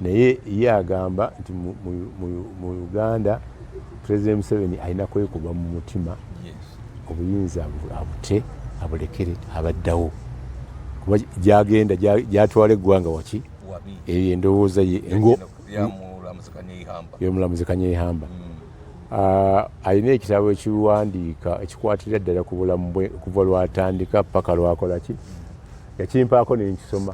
Naye ye agamba nti mu Uganda President Museveni alina kwekuba mu mutima obuyinza abute abulekere abaddawo kuba gyagenda gyatwala eggwanga waki eyo endowooza ye yomulamuzi kanyeihamba mm. ah, alina ekitabo ekiwandiika ekikwatira ddala ku bulamu bwe okuva lwatandika paka lwakolaki yakimpaako nenkisoma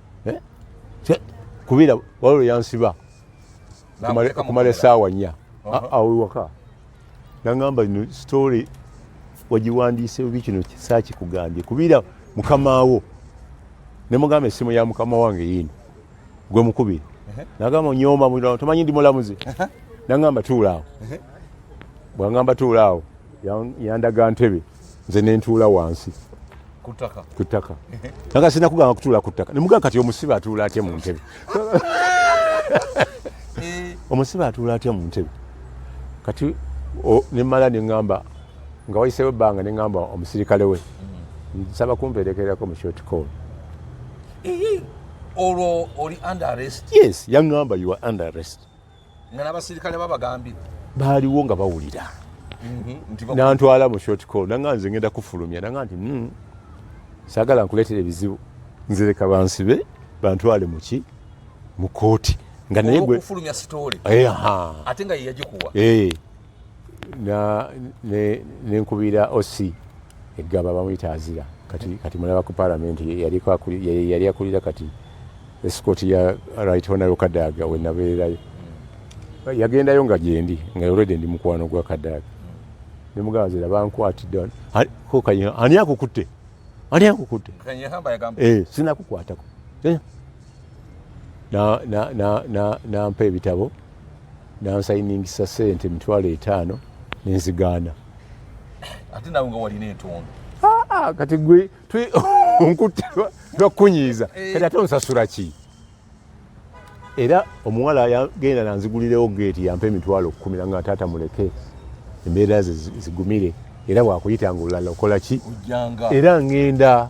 eh? kubira waliwo yansiba okumala esaawa nnya awewaka nangamba no story wagiwandiise obi kino saakikugambye kubira mukamaawo ne mugamba essimu ya mukama wange yiino gwe mukubiri nagamba onyooma mulirawo tomanyi ndi mulamuzi nangamba tuulaawo bwangamba tuulaawo yandaga ntebe nze nentuula wansi ku ttaka naga sina kugamba kutuula ku ttaka nemugaa kati omusibe atuula atya mu ntebe eh. omusibe atuula atya mu ntebe kati nemala neŋamba nga wayisewo ebbanga neŋamba omusirikale we mm. nsaba kumperekerako mu short call olwo oli under arrest yes yaŋamba you are under arrest nga n'abasirikale babagambye baaliwo nga bawulira mhm, nantwala mu short call nanga nze ngenda kufulumya nanga nti hmm, sagala nkuleetera ebizibu nzireka bansibe bantwale muki mu kooti nga naye gwe ate nga yeyagikuwa eh. nenkubira oc eggaba bamuyita azira kati kati mulaba ku palamenti yali akulira kati esikooti ya right honorable kadaaga wenabeerayo hmm. yagendayo nga gyendi nga olwedde ndi mukwano gwa kadaaga nemugamba zira bankwatidde kokanyina ani akukutte ani akukutte eh, sinakukwatako nampa ebitabo nansayiningisa sente emitwalo etaano nenzigaana ate nawe nga walina entondo ah, ah, kati gwe nkutte lwakukunyiiza eh. kati ate onsasula ki era omuwala yagenda nanzigulirewo geeti yampa emitwalo okukumira nga taata muleke embeera ze zigumire era wakuyita nga olulala okola ki era ngenda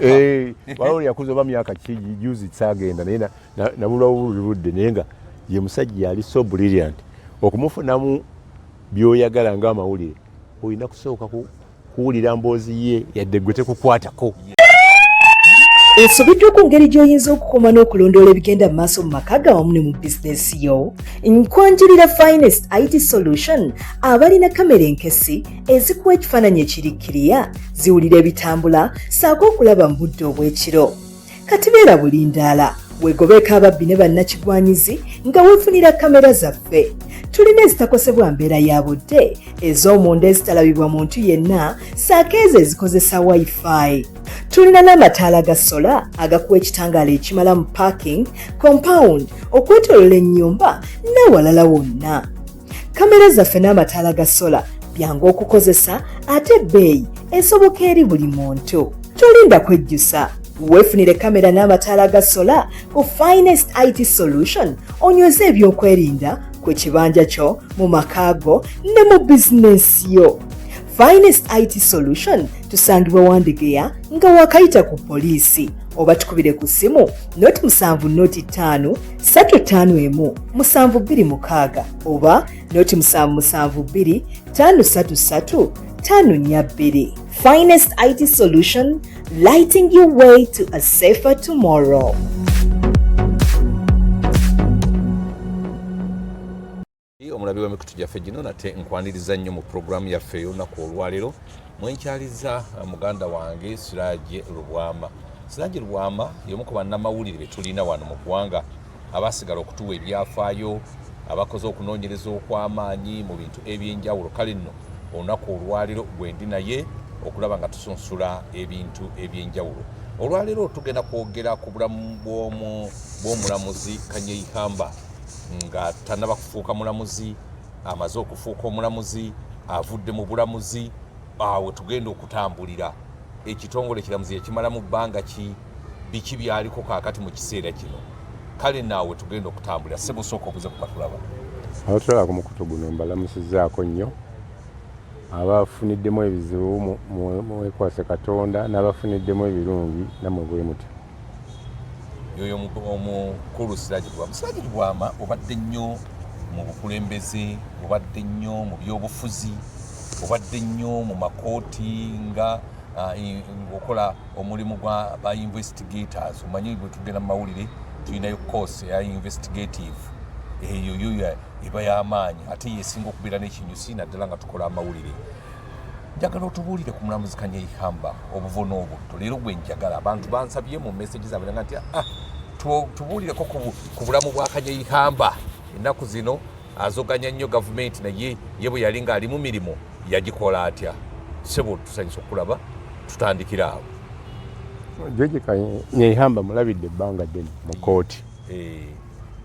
eh, waliwo lyakuza oba myaka ki juzi saagenda naye nabulwa buli budde naye nga ye musajja yali so brilliant okumufunamu byoyagala nga amawulire olina kusooka kuwulira mboozi ye yadde gwe tekukwatako esobeddwa ku ngeri gy'oyinza okukuuma n'okulondoola ebigenda mu maaso mu maka ga wamu ne mu bizinesi yo nkwanjulira finest it solution abalina kamera enkesi ezikuwa ekifaananyi ekirikkiriya ziwulira ebitambula saako okulaba mu budde obw'ekiro kati beera bulindaala wegobeeko ababbi ne bannakigwanyizi nga wefunira kamera zaffe tulina ezitakosebwa mbeera ya budde ez'omunda ezitalabibwa muntu yenna saako ezo ezikozesa wifi tulina n'amataala ga sola agakuwa ekitangaala ekimala mu parking compound okwetolola ennyumba n'awalala wonna kamera zaffe n'amataala ga sola byangu okukozesa ate ebbeeyi esoboka eri buli muntu tolinda kwejjusa weefunire kamera n'amataala ga sola ku finest it solution onyweze ebyokwerinda ku kibanja kyo mu maka go ne mu bizinensi yo Finest IT Solution tusangibwa Wandegeya nga wakayita ku poliisi oba tukubire ku ssimu noti musanvu noti ttaano ssatu ttaano emu musanvu bbiri mukaaga oba noti musanvu musanvu bbiri ttaano ssatu ssatu ttaano nnya bbiri Finest IT Solution lighting your way to a safer tomorrow. omulabi w'emikutu gyaffe gino nate nkwaniriza nnyo mu pulogulaamu yaffe ey'olunaku olwaleero mwenkyaliza uh, muganda wange siraje lubwama siraje lubwama y'omu ku bannamawulire be tulina wano mu ggwanga abaasigala okutuwa ebyafaayo abakoze okunoonyereza okw'amaanyi mu bintu eby'enjawulo kale nno olunaku olwaleero gwendi naye okulaba nga tusunsula ebintu eby'enjawulo olwaleero tugenda kwogera ku bulamu bw'omulamuzi kanyeihamba nga tanaba kufuuka mulamuzi amaze okufuuka omulamuzi avudde mu bulamuzi awo tugenda okutambulira ekitongole kiramuzi ekimala mu bbanga ki biki byaliko kakati mu kiseera kino kale naawe tugenda okutambulira sebusooka obuze kukatulaba abatulaba ku mukutu guno mbalamusizaako nnyo abafuniddemu ebizibu mwekwase katonda n'abafuniddemu ebirungi namwe bwe mutyo yoyo omukulu siraji gwama siraji gwama obadde nnyo mu bukulembeze obadde nnyo mu byobufuzi obadde nnyo mu makooti nga ah, okola omulimu gwa ba investigators omanyi bwetugenda mu mawulire tulinayo course ya investigative eyo yoyo eba y'amaanyi ate yesinga okubeera n'ekinyusi naddala nga tukola amawulire njagala otubuulire ku mulamuzi kanyeihamba obuvuna obutto leero gwe njagala abantu bansabye mu message zabwe nga nti ah tubuulireko ku bulamu bwa kanyeihamba ennaku zino azoganya nnyo gavumenti naye ye bwe yali ng'ali mu mirimu yagikola atya sebo tusanyisa okulaba tutandikira awo joji kanyeihamba mulabidde ebbanga ddene mu kooti eh.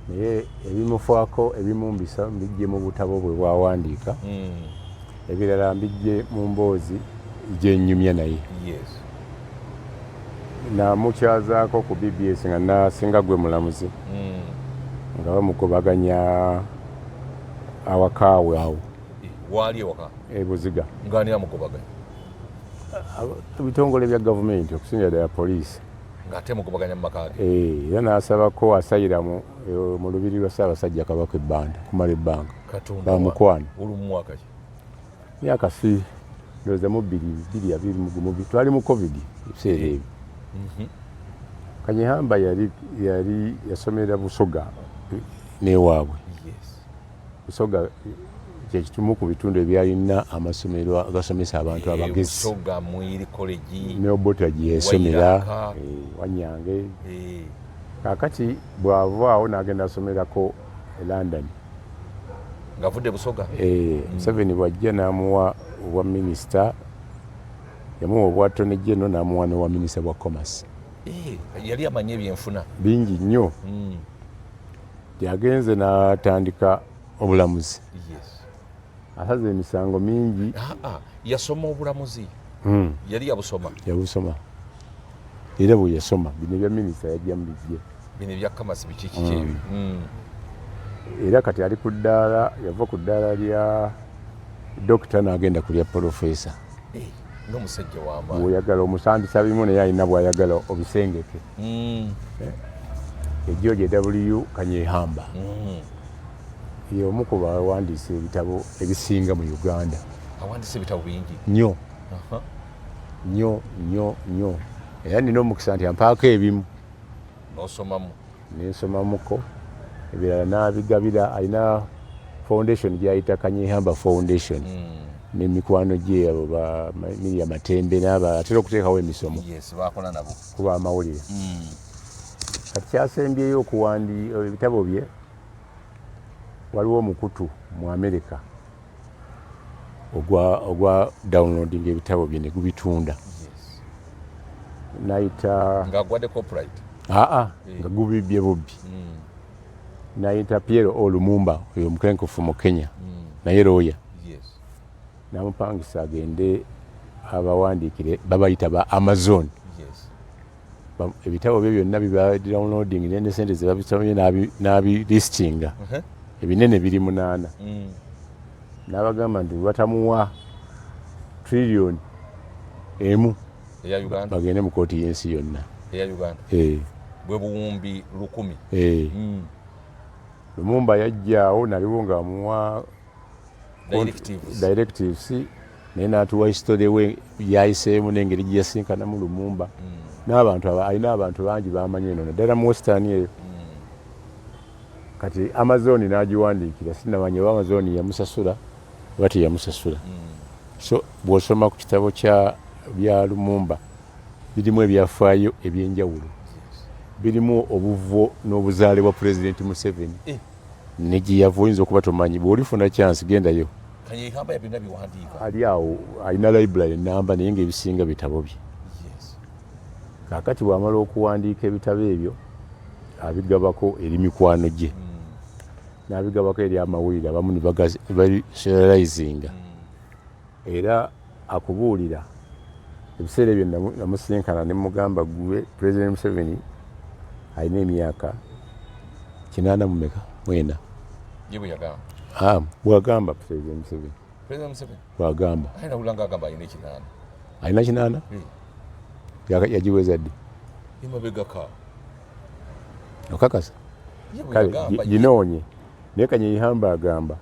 naye ebimufaako ebimumbisa mbijje mu butabo bwe bwawandiika hmm. Ebirala mbijje mu mboozi gyenyumya naye. Yes. Namukyazaako ku BBS nga nasinga gwe mulamuzi. Mm. Nga bamugobaganya awakaawe awo. Eh, waali ewaka? E Buziga. Nga ani amugobaganya? Ebitongole bya gavumenti okusingira ddala poliisi. ng'ate mugobaganya mu maka ge eh, era n'asabako asayiramu eh, mu lubiri lwa ssaabasajja kabaka ebbanda kumala ebbanga bamukwano myaka si ndoza mu biri biri ya biri mugumu bitwali mu covid ebiseera ebyo mhm. kanyihamba yali yali yasomera busoga newaabwe busoga kyekimu ku bitundu ebyalina amasomero agasomesa abantu eh, abagezi neobota gyeyasomera eh, wanyange eh. kakati bwavaawo nagenda asomerako e London ngavudde Busoga eh, mm. Museveni mm. bwajja n'amuwa obwa minisita yamuwa obwa tony general n'amuwa n'obwa minisita bwa commerce eh, yali amanyi ebyenfuna bingi nnyo mm. yagenze n'atandika obulamuzi yes. asaza emisango mingi yasoma obulamuzi hmm. yali yabusoma yabusoma era bwe yasoma bino ebya minisita yajjamu bijje bino ebyakamasi bikikiki hmm. hmm. era kati ali ku ddaala yava ku ddaala lya dokita n'agenda ku lya polofesa eh, nomusajja wama oyagala omusambisa bimu naye alina bwayagala obisengeke eh, ejjo gye w kanyehamba Y'omu ku bawandiise ebitabo ebisinga mu Uganda. Awandiise ebitabo bingi nnyo nnyo nnyo nnyo, era nina omukisa nti ampaako ebimu n'osomamu, nensomamuko ebirala n'abigabira. Alina foundation gy'ayita Kanyehamba Foundation hmm. ne mikwano gye abo ba Miria Matembe n'aba atera okuteekawo emisomo ku b'amawulire. Hmm. Kati kyasembyeyo okuwandi ebitabo bye Waliwo omukutu mu Amerika ogwa ogwa downloading ebitabo bye ne gubitunda nayita nga gwade copyright aa ah, ah, eh. nga gubibye bubbi hmm. nayita Pierre Olumumba oyo omukenkufu mu Kenya hmm. naye looya namupangisa agende abawandiikire babayita ba Amazon ebitabo bye byonna bibadownloading ne ne sente zebabisomye n'abilistinga uh-huh. ebinene biri munaana mm. n'abagamba nti batamuwa trillion emu bagende mu kooti y'ensi yonna eh. bwebuwumbi lukumi eh. mm. lumumba yajjaawo naliwo ngaamuwa directives naye natuwa history we yayiseemu nengeri gyeyasinkanamu lumumba mm. n'abantu alina abantu bangi bamanyi eno naddala mu western eyo mm. kati amazoni nagiwandiikira sinamanya oba amazoni yamusasula oba teyamusasula mm. so bwosoma ku kitabo kya bya lumumba birimu ebyafaayo ebyenjawulo birimu obuvo n'obuzaale bwa pulezidenti museveni eh. nejeyava oyinza okuba tomanyi bwolifuna chance gendayo ali awo alina library namba naye nga ebisinga bitabo bye kakati bwamala okuwandiika ebitabo ebyo abigabako eri mikwano gye hmm. nabigabako eri amawulire abamu nibagaseralizinga mm. Era akubuulira. Ebiseera ebyo namusisinkana ne mmugamba, ggwe Pulezidenti Museveni alina emyaka kinaana mu meka? Mwena. Ye bwe yagamba. Ah, bwagamba Pulezidenti Museveni. Pulezidenti Museveni? Bwagamba. Aye nawulira ng'agamba alina ekinaana. Alina kinaana? Hmm. Yagiweza ddi? Emabegaka. Okakasa? Kale, ginoonye. Naye Kanyeihamba agamba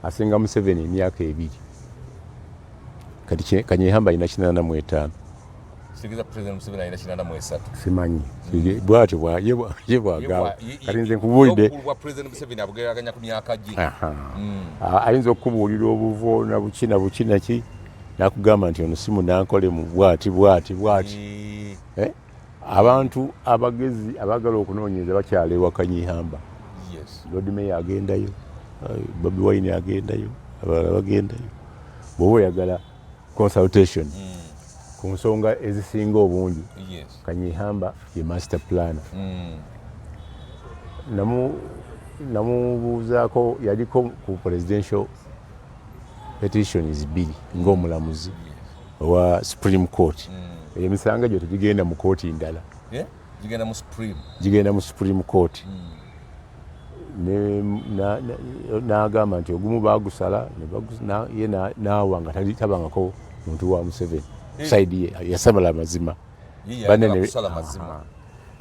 asinga Museveni emyaka ebiri. Kati Kanyeihamba alina kinana mu etaano. Sigeza President Museveni alina kinana mu esatu. Simanyi. Bwatyo bwa ye bwagamba. Kati nze nkubuulidde. Obukulu President Museveni abugeraganya ku myaka gye. Hmm. Ayinza okukubuulira obuvo na buki na buki naki nakugamba nti ono si munankole mu bwati bwati bwati. Eh? Abantu abagezi abagala okunoonyereza bakyala ewa Kanyihamba. Yes. Lord Mayor agendayo, uh, Bobi Wine agendayo, abalala bagendayo. Bwoba oyagala consultation mm. ku nsonga ezisinga obungi yes. Kanyihamba ye master planner. Mm. Namu namubuuzaako yaliko ku presidential petitions bbiri ng'omulamuzi. Yes. owa supreme court mm. emisango egyo tegigenda mu kooti ndala eh? gigenda mu supreme gigenda mu supreme court mm. n'agamba nti ogumu bagusala ye n'awa nga tabangako muntu wa museveni eh. saidi ye yasabala amazima banene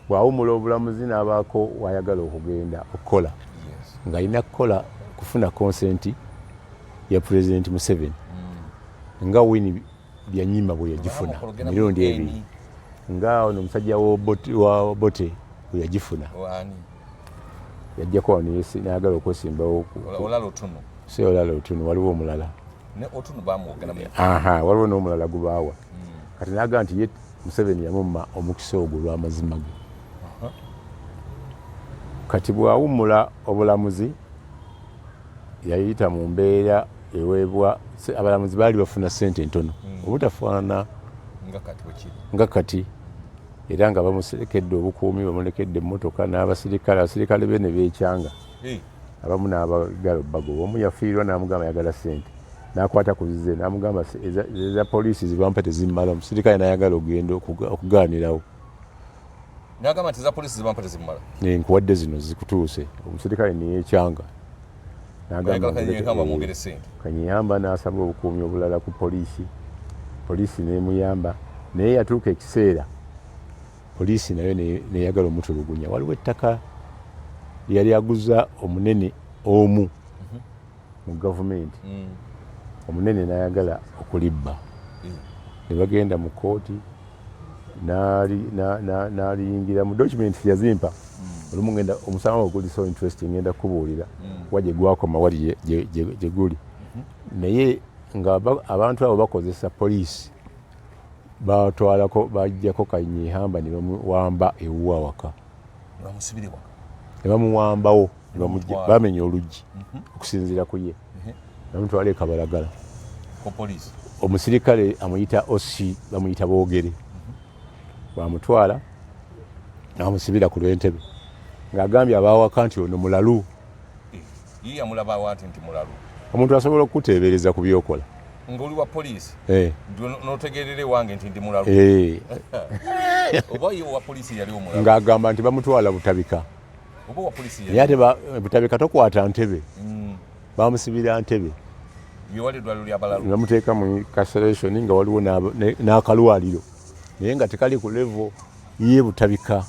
bwawumula obulamuzi n'abaako wayagala okugenda okukola ng'alina kukola kufuna konsenti ya president museven mm. nga wini byanyima bwe yagifuna mirundi ebiri nga ono omusajja wa bote bwe yagifuna yajjako wano nayagala okwesimbawo si olala otunu waliwo omulala waliwo n'omulala gubaawa mm. kati naga nti ye museveni yamumma omukisa ogwo lwamazima ge kati bwawummula obulamuzi yayita mu mbeera eweebwa abalamuzi baali bafuna ssente ntono hmm. obutafaanana nga kati era nga bamuserekedde obukuumi bamulekedde emmotoka n'abasirikale abasirikale be ne beekyanga hmm. abamu n'abagala bagoba omu yafiirwa n'amugamba ayagala ssente n'akwata ku zize n'amugamba eza poliisi zibampa tezimmala omusirikale n'ayagala ogenda okugaanirawo Nagamba nti za poliisi zibampa tezimumala. Nkuwadde zino zikutuuse omusirikale neyekyanga kanyeyamba n'asaba obukuumi obulala ku poliisi poliisi nemuyamba naye yatuuka ekiseera poliisi nayo neyagala omutulugunya waliwo ettaka yali aguza omunene omu mhm. mu gavumenti mm. omunene nayagala okulibba mm. ne bagenda mu kooti naliyingiramu documents yazimpa hmm. olumu ngenda omusango oguli so interesting ngenda kubuulira hmm. kuba gyegwakoma wali gyeguli hmm. naye nga abantu abo bakozesa poliisi batwalako bajjako kanyihamba nebamuwamba ewuwa waka nebamuwambawo bamenya oluggi mhm. okusinziira ku ye namutwala e kabalagala omusirikale amuyita osi bamuyita boogere mhm. bamutwala namusibira ku lwentebe ng'agambye abaawaka nti ono mulalu eh, omuntu asobola okukuteebereza ku byokola ngoli wa police eh no tegerere wange ntindi mulalu eh obaye wa police yali omulalu ngagamba ntibamutwala butabika naye ate butabika tokwata ntebe mm. bamusibira ntebe bamuteeka mu incarceration nga waliwo n'akalwaliro naye nga tekali ku levo ye butabika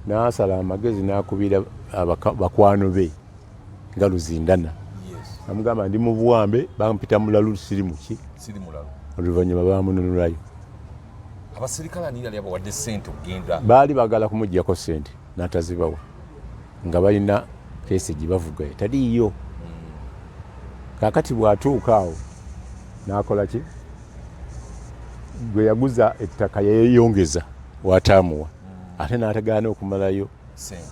n'asala amagezi n'akubira bakwano be nga luzindana amugamba ndi mu buwambe bampita mulalu siri muki oluvannyuma bamununulayo abaserikale ani yali abawadde sente okugenda baali bagala kumuggyako sente natazibawa nga balina kesi gyebavuga etaliiyo hmm. kakati bwatuuka awo nakola ki gwe yaguza ettaka yeyongeza wataamuwa hmm. ate natagaana okumalayo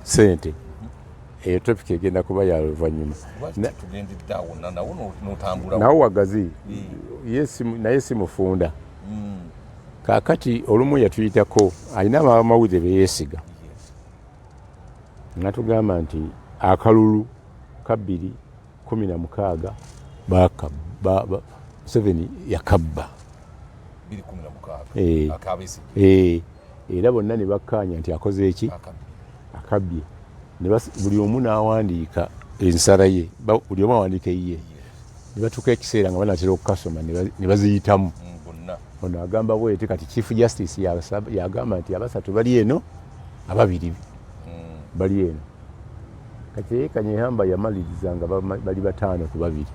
sente eyo topic egenda kuba ya luvannyuma nawo wagazi naye si mufunda mm. kakati olumu yatuyitako alina abamawulire beyesiga natugamba nti akalulu kabbiri kumi na mukaaga museveni yakabba eh. eh. era bonna ne bakkaanya nti akoze eki akabbye buli omu n'awandiika ensala ye buli omu awandiika eyiye ne batuuka ekiseera nga banatera okukasoma ne baziyitamu mm, ono agamba bwete kati chief justice yagamba nti abasatu bali eno ababiri mm. bali eno kati eye kanyehamba yamaliriza nga bali bataano ku babiri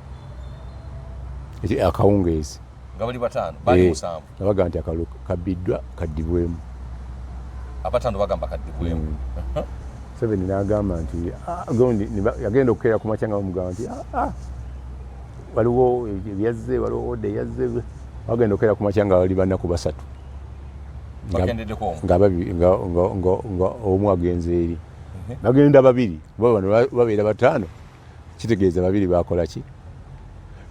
akawungeezi nga bali bataano bali eh, musanvu nga bagamba nti akalulu kabbiddwa kaddibwemu abataano bagamba kaddibwemu hmm. seven nagamba nti ah, gondi yagenda okukeera ku makya nga bamugamba nti ah, ah, waliwo ebyazze waliwo oda eyazze bagenda okukeera ku makya nga bali banaku basatu nga omu agenze eri mhm. bagenda babiri kuba bano babeera bataano kitegeeza babiri bakola ki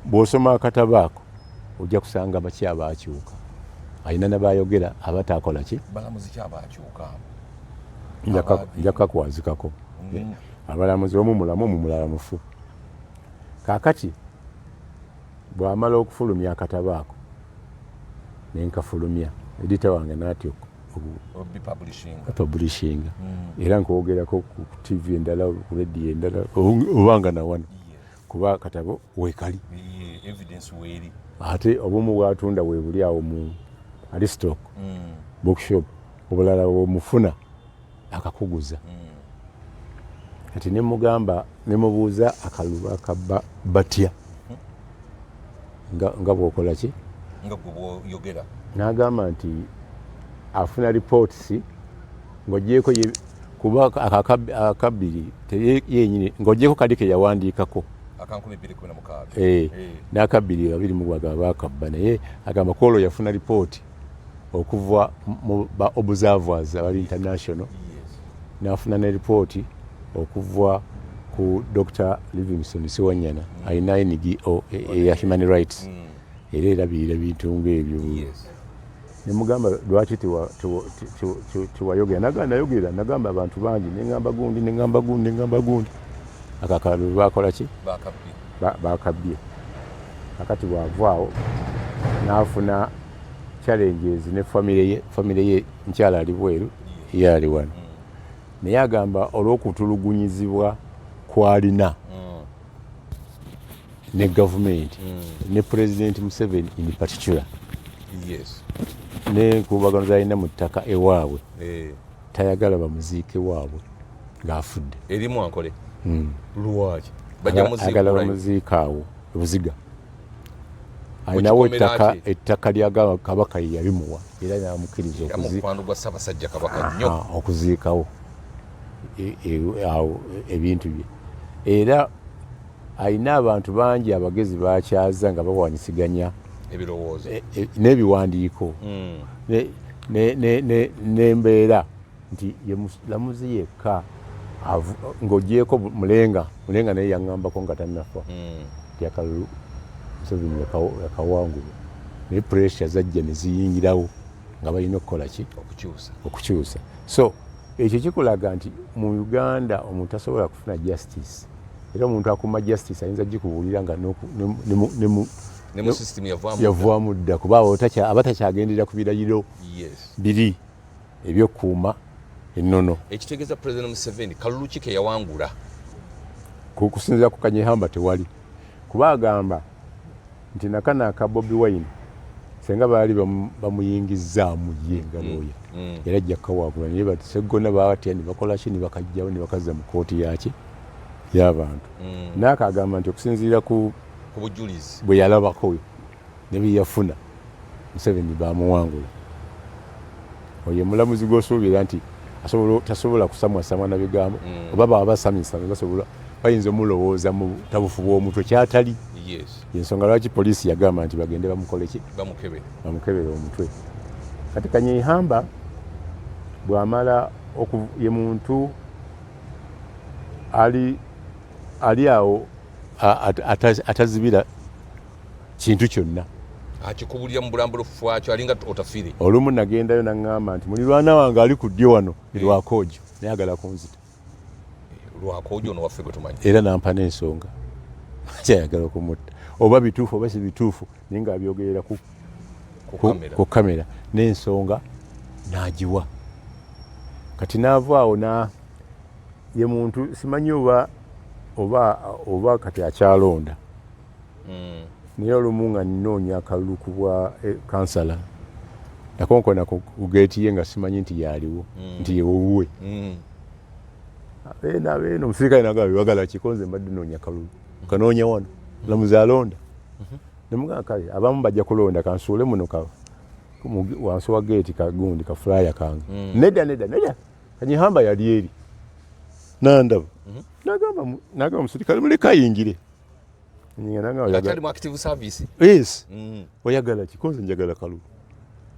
bw'osoma akatabo ako ojja kusanga baki abaakyuka alina nabayogera abataakola ki nja kakwazikako mm. abalamuzi omu mulamu omu mulala mufu kaakati bw'amala okufulumya akatabo ako nenkafulumya edita wange natyoko publishinga hmm. era nkwogerako ku tv endala ku radio endala obanga nawano kuba katabo wekali ate obumu bwatunda webuli awo mu alistock hmm. bookshop obulala wemufuna akakuguza kati ne mugamba ne mubuuza akaluba akabba batya nga bwokola ki nga gwe bwoyogera n'agamba nti afuna lipootisi ng'ogyeko kuba akabbiri yenyini ng'ogyeko kali ke yawandiikako eh, eh. n'akabbiri babiri mugwagaba akabba naye agamba kwolwo yafuna lipooti okuva mu ba observers abali international nafuna ne ripooti okuva ku dr livingston siwanyana alina ngo e, e, eya human rights mm. era erabirira bintu ngaebyo nemugamba lwaki tiwayogera nagamba nayogera nagamba abantu bangi nengamba gundi nengamba gundi nengamba gundi akakalulu bakolaki bakabbye akati bwava awo n'afuna challenges ne famire ye famire ye nkyala ali bweru ye ali wano naye agamba olw'okutulugunyizibwa kwalina mm. ne gavumenti mm. ne pulezidenti museveni in particular nenkubagano zalina mu ttaka ewaabwe eh. tayagala bamuziike waabwe ng'afudde erimu ankole hmm. lwaki bajagala bamuziika awo ebuziga alinawo ettaka ettaka lya kabaka yeyabimuwa era namukiriza okuziikawo e, e, awo ebintu bye era Alina abantu bangi abagezi bakyaza nga bawanyisiganya ebirowoozo e, e, n'ebiwandiiko hmm. n'embeera nti ye mulamuzi yekka ng'ogyeko mulenga mulenga naye yaŋŋambako nga tannafa hmm. nti akalulu museveni yakawangulwa naye pressure zajja ne ziyingirawo nga balina okukola ki okukyusa so ekyo kikulaga nti mu uganda omuntu asobola kufuna justice era omuntu akuuma justice ayinza gikubuulira nga yavwamu dda kuba aba takyagendera ku birayiro biri ebyokuuma ennono ekitegeeza president museveni kalulu ki keyawangula kusinzira ku kanyehamba tewali kuba agamba nti nakana aka bobi wine senga baali bamuyingizzaamu ye nga mm. looya mm. era ajja kukawaagula naye baseggona baatya ne bakola ki ne bakajjawo ne bakazza mu kooti yaki y'abantu mm. naye akagamba nti okusinziira ku bujulizi bwe yalabako ne bye yafuna museveni bamuwangula oyo omulamuzi gwosuubira nti tasobola kusamwasamwa na bigambo mm. oba baba basamisame basobola bayinza omulowooza mu tabufu bw'omutwe kyatali yensonga lwaki poliisi yagamba nti bagende bamukoleki bamukebere omutwe kati kanyeihamba bwamala ye muntu ali ali awo atazibira kintu kyonna akikubulira mu bulambulufu wakyo alinga otafire olumu nagendayo naŋŋamba nti mulirwana wange ali ku ddyo wano eh. lwakoojo naye agala kunzita eh, lwakoojo ono waffe gwetumanyi era nampa n'ensonga kyayagala okumutta oba bituufu oba si bituufu naye nga abyogerera ku ku kamera n'ensonga n'agiwa kati naava awo na ye muntu simanyi oba oba oba kati akyalonda mm. naye olumu nga nnoonya akalulu ku bwa eh, kansala nakonkona ku geeti ye nga simanyi nti yaaliwo mm. nti yewowuwe mm. abeena abeena omusirikale naga bebagala kikonze mbadde noonya kalulu kanoonya wano lamuzi alonda mm-hmm. Nemugamba kale abamu bajja kulonda kansuule muno ka wansi wa geeti kagundi ka fulaya kange. Mm. Nedda nedda nedda kanyihamba yali eri nandaba mm -hmm. nagamba nagamba omusirikale muleka ayingire yes mm. oyagala ki konze njagala kalulu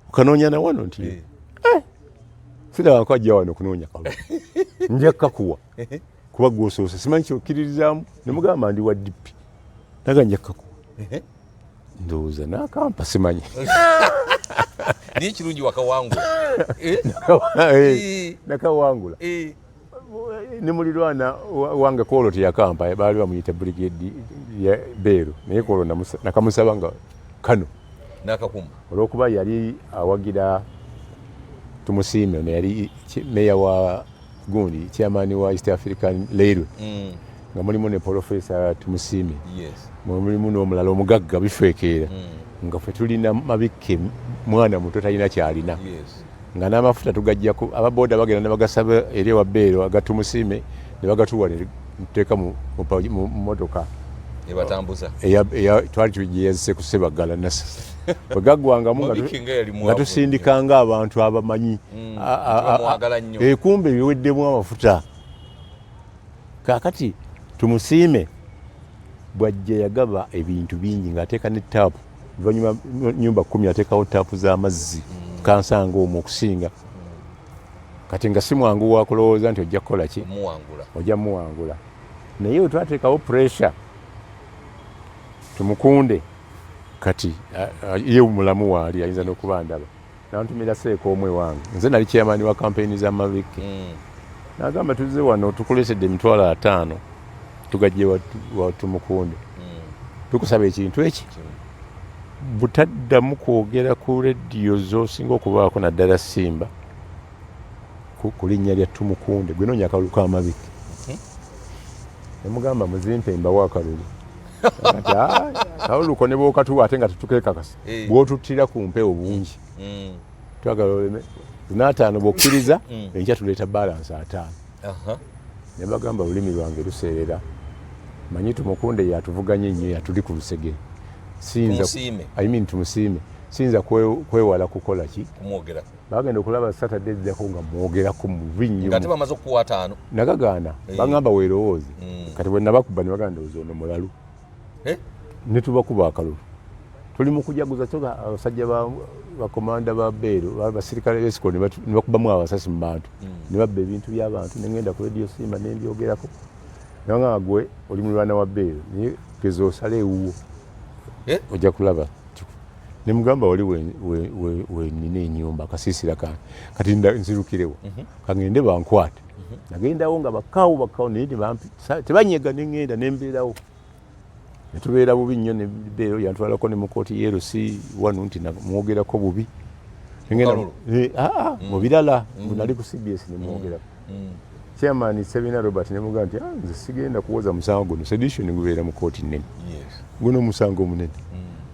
okanoonya na wano nti eh. eh. sirabako ajja wano okunoonya kalulu nja kukakuwa kuba gwosoose simanyi kyokkiririzaamu ne mugamba ndi wa dippi naga nja kaku ndowooza nakampa simanyi naye kirungi wakawangula eh? Eh, nakawangula eh. ne mulirwana wange kwolwo teyakampa baali bamuyita brigade ya beero naye kwolwo nakamusaba nga kano nakakuma olwokuba yali awagira tumusiime neyali meya wa gundi chairman wa east african railway mm. nga mulimu ne profesa tumusiimi yes. mulimu n'omulala omugagga bifekeera mm. nga fe tulina mabikke mwana muto talina kyalina yes. nga n'amafuta tugajjako ababooda bagenda ne bagasaba eri ewa beero agatumusiime ne bagatuwa nteeka mu mmotoka ebatambuza twali tugyeyazise ku sebaggala nasa bwe gaggwangamu nga tusindikanga abantu abamanyi mm, eh, kumbe biweddemu amafuta kakati tumusiime bwajja yagaba ebintu bingi ng'ateeka ne taapu oluvanyuma nyumba kumi ateekawo taapu z'amazzi mm. kansanga omwo okusinga kati nga si mwangu wakulowooza nti ojja kukola ki ojja muwangula naye wetwateekawo pressure tumukunde kati ye mulamu waali ayinza nokuba ndaba nantumira seeka omu ewange nze nali chairman wa kampeyini za maviki mm. nagamba tuzze wano tukulesedde emitwalo ataano tugajje watumukunde mm. tukusaba ekintu eki butaddamu kwogera ku lediyo zosinga okubaako naddala simba ku linnya lya tumukunde gwe noonya akalulu k'amabiki nemugamba muzimpe mbawo akalulu kaluluko ne bwokatuwa ate nga tetukekakasa eh. bwotuttira ku mpewo bungi mm. twagala oleme lunaataano bwokkiriza mm. enkya tuleeta balansi ataano ne bagamba olulimi lwange luseerera manyi tumukunde yatuvuganye nnyo yatuli ku lusegere siyimin tumusiime siyinza kwewala kukola ki bagenda okulaba satade eddako nga mwogerako mubi nnyo nagagaana eh. bagamba werowooze mm. kati bwenabakuba nebaganda ozi ono mulalu eh? ne tubakuba akalulu tuli mu kujaguza kyoka abasajja bakomanda ba beero basirikale besiko ne bakubamu abasasi mu bantu hmm. ne babba ebintu by'abantu ne ngenda ku rediyo simba ne mbyogerako naye nga gwe oli mulwana wa beero naye geza osala ewuwo eh? ojja kulaba ne mugamba wali wenina enyumba akasiisira kange kati nzirukirewo mhm. kangende bankwate nagendawo nga bakawo bakawo naye tebanyega nengenda nembeerawo netubeera bubi nnyo nebeero yantwalako ne mukooti yerc wanu nti namwogerako bubi eh, ah, ah, mm. mubirala mm. nali ku cbs nemwogerako mm. chairman sebina robert nemuga nti ah, nze sigenda kuwoza musango guno sedition gubeera mu kooti nene guno omusango omunene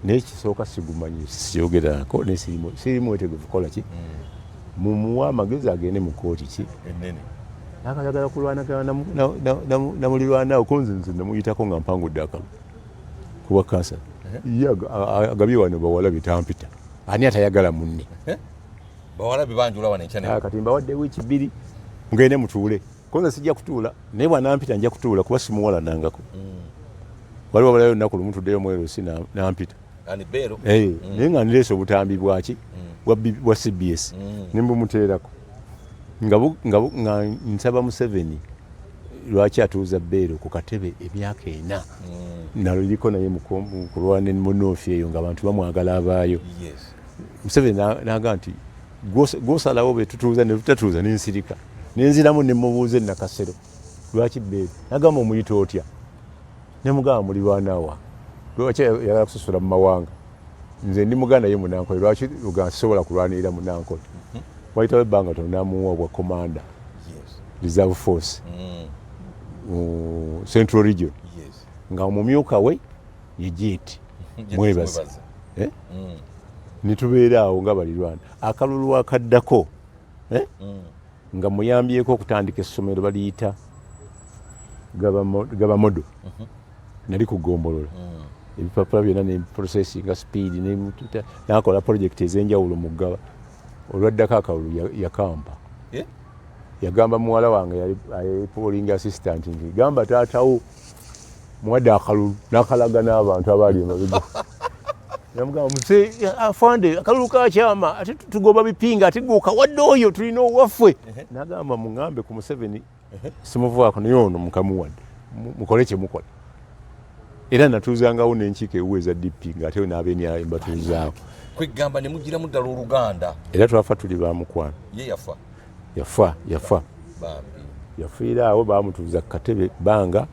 naye kisooka sigumanyi siyogerako nesiri mwetegevu kukola ki Mumuwe amagezi agende mu kooti ki enene nakayagala kulwanagana namulirwanawo konze nze namuyitako nga mpangudde akalu kuwa kansa ye agabye wano bawala bitampita ani atayagala munne bawala bebanjula wano enkya ah, kati mbawadde wiiki bbiri mugende mutuule konze sijja kutuula naye bwanampita nja kutuula kuba simuwala nangako mm. waliwo abalayo olunaku lumu tuddeyo mwerosi nampita eh, mm. naye nga nirese obutambi bwaki mm. bwa cbs mm. nembumuteerako nga nsaba museveni lwaki atuuza beero ku katebe emyaka ena naliriko naye mukulwana munoofi eyo nga abantu bamwagala abaayo museveni naga nti gwosalawo betutuuza netutatuuza nensirika nenziramu nemubuuza enakasero lwaki beero nagamba omuyita otya Nemugamba mulirwana wa lwaki yagala kusasula mu mawanga nze ndi muganda ye munankole lwaki uga sisobola kulwanirira munankole mhm. wayitawo ebbanga tono namuwa obwa commander reserve force mm. mu central region nga omumyuka we ye jeeti mwebaza eh? mm. nitubeera awo nga balirwana akalulu akaddako eh? mm. nga muyambyeko okutandika essomero baliyita gaba modo mhm. nali kugombolola mm. ebipapula byona ne processing speed nakola project ezenjawulo mugaba olwaddako akalulu yakampa eh? yagamba muwala wange yali polling assistant nti gamba taatawo muwadde akalulu nakalaga n'abantu abaali emabega namugamba muze afande akalulu kakyama ate tugoba bipinga ate gwokawadde oyo tulina owaffe nagamba mugambe ku museveni simuvaako naye ono mukamuwadde mukole kyemukola era natuuzangawo nenkiiko ewu eza dp ngaate nabenyayo mbatuuzaako kwegamba nemugiramu ddala oluganda era twafa tuli bamukwano ye yafa yafa yafa yafiira awo bamutuuza kukatebe bbanga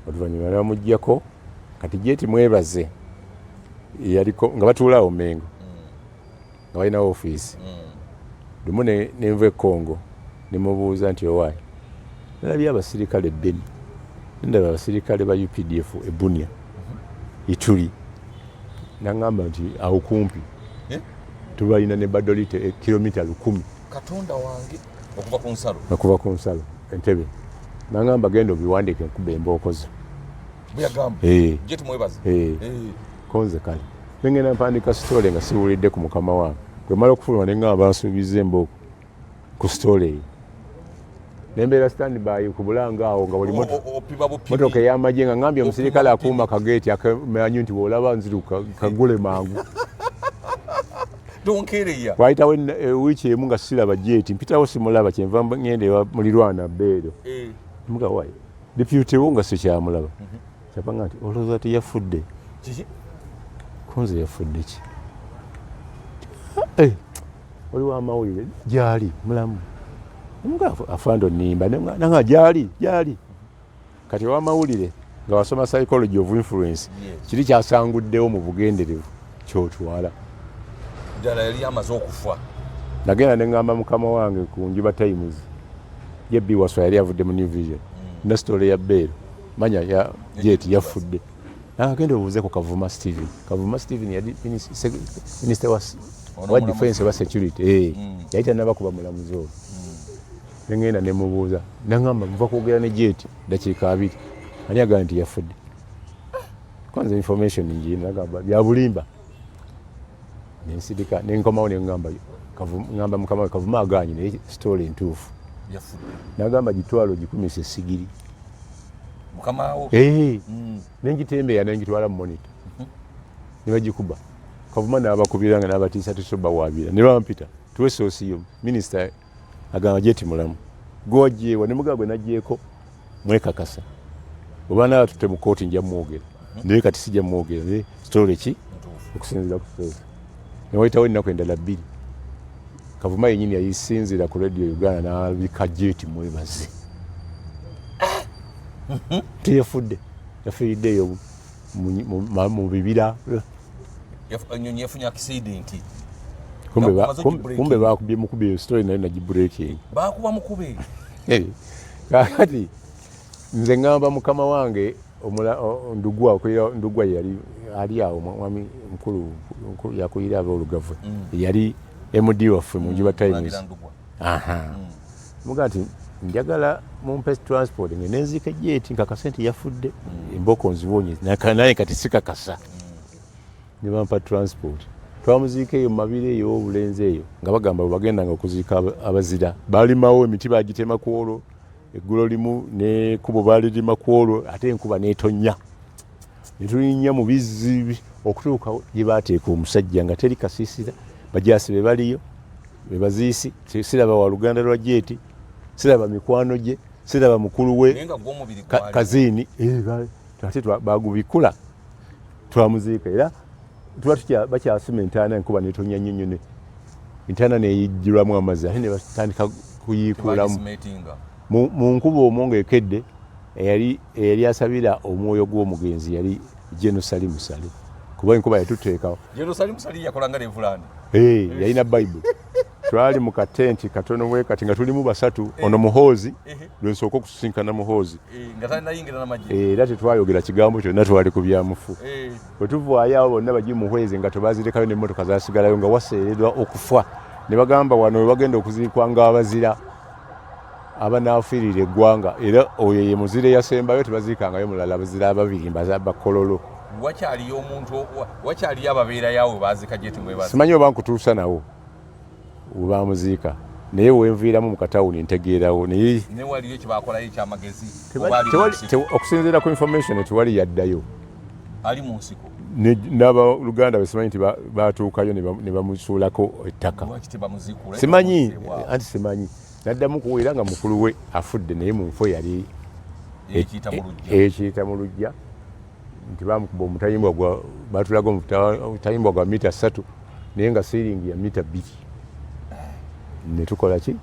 oluvanyuma namugjako kati jeti mwebaze yaliko nga batuulaawo mengo nga balinawo ofiisi lumu nenva ekongo nemubuuza nti owaayi nalabye abasirikale ebbeni nendaba abasirikale ba updf ebunia ituli nangamba nti awo kumpi eh? tubalina ne badolite eh, kilomita lukumi katonda wange okuva ku nsalo okuva ku nsalo entebe nangamba genda obiwandike nkuba embookozo konze kale nengenda mpandika sitole nga siwulidde ku mukama wange kwemala okufuluma nengamba nsuubiza embooko ku sitole eyo nembeera stand by ku bulanga awo nga wali motoka eyamagye nga ngambye omusirikale akuuma kageeti akamanyi nti bwolaba nziru kagule mangu wayitawo eh, wiiki emu nga siraba jeti mpitawo simulaba kyenva ngenda ewa mulirwana beero eh. mugawayo dipyutewo nga sikyamulaba mhm. kyava nga nti olowooza ti yafudde kunze yafudde ki eh, oliwo amawulire gyali mulamu afande onimba nanga gyali gyali Kati owamawulire nga wasoma psychology of influence kiri kyasanguddewo mu bugenderevu kyotwala ddala yali amaze okufa nagenda neŋŋamba mukama wange ku njuba times jebbi waswa yali avudde mu new vision mm. nasitole ya beero manya ya jeti yafudde nagenda obuuze ku kavuma steven kavuma steven yali minisita wa defense wa security eh, mm. yali tanabakuba mulamuzi oyo Ne ŋŋenda ne mmubuuza n'aŋŋamba nva kwogera ne Jet ddakiika abiri ani agambye nti yafudde? Kuba nze information ngiina nagamba bya bulimba. Ne nsirika ne nkomawo ne ŋŋamba ŋŋamba mukama we Kavuma agaanyi naye sitoola entuufu. N'agamba gitwalo gikumise essigiri. Mukamaawo? Ee. Eh, mm. Ne ngitembeeya ne ngitwala mu monita mhm. ne bagikuba. Kavuma n'abakubira nga n'abatiisatiisa obawaabira ne bampita tuwe soosi yo minisita agamba jeti mulamu gwewajeewa nemugaa gwe najeeko mwekakasa obana batutte mu kooti nja mwogera naye kati sija mwogera naye sitole ki okusinzira ku feesi newayitawo ennaku endala bbiri kavuma yenyini yayisinzira ku radio uganda nabika jeti mwebaze teyefudde yafiiriddeeyo mu bibira enyonyi yafunye accident kumbe bakubye mukube eyo story nayo nagi breaking bakuba mukube eh, kakati nze ngamba mukama wange ndugwa okulira ndugwa yali ali awo mwami mukulu yakuyira abaolugavwe mm. yali md waffe munjuba times muga nti njagala mumpe transport nge nenzika ejeti nkakasa nti yafudde mm. emboko nziwonye naye kati sikakasa nebampa transport twamuziika eyo mumabiro eyo obulenzi eyo nga bagamba webagendanga okuziika abazira balimawo emiti bagitema kwolwo eggulo limu nekubo balirima ku olwo ate enkuba netonnya netulinnya mu bizzi okutuuka gye bateeka omusajja nga teri kasiisira bajaasi be baliyo be baziisi siraba wa luganda lwa jeeti siraba mikwano gye siraba mukulu we kaziini eh, ate bagubikula twamuziika era tuba tutya bakyasuma entaana enkuba netonya nnyo nnyo entaana neyijjulamu amazzi ate nebatandika kuyiikuulamu mu nkuba omwo ngaekedde eyali asabira omwoyo gw'omugenzi yali genosali musale kuba enkuba yatuteekawo yalina bayibuli twali mu katenti katono bwe kati nga tulimu basatu eh. ono muhoozi eh. lwensooka okusisinkana muhoozi eh, era tetwayogera kigambo kyonna twali ku byamufu bwe tuvaayo awo bonna bagi muhwezi nga tebazirekayo nemmotoka zasigalayo nga waseeredwa okufa ne bagamba wano we bagenda okuziikwa ngaabazira abanaafiirira eggwanga era oyo ye muzira eyasembayo tebaziikangayo mulala bazira ababiri mbakololo wakyaliyo omuntu wakyaliyo ababeerayo awo bazika gyetimwebasimanyi oba nkutuusa nawo webaamuziika naye wenviiramu mukatawuni ntegeerawo naye okusinziira ku information tewali yaddayo ali mu nsiko n'abaluganda besimanyi nti batuukayo ne bamusuulako ettaka simanyi anti simanyi naddamu kuweera nga mukulu we afudde naye mu nfo yali ekiyita mu lujja nti bamukuba omutayimbwa gwa batulaga omutayimbwa gwa mita satu naye nga siiringi ya mita bbiri netukola ki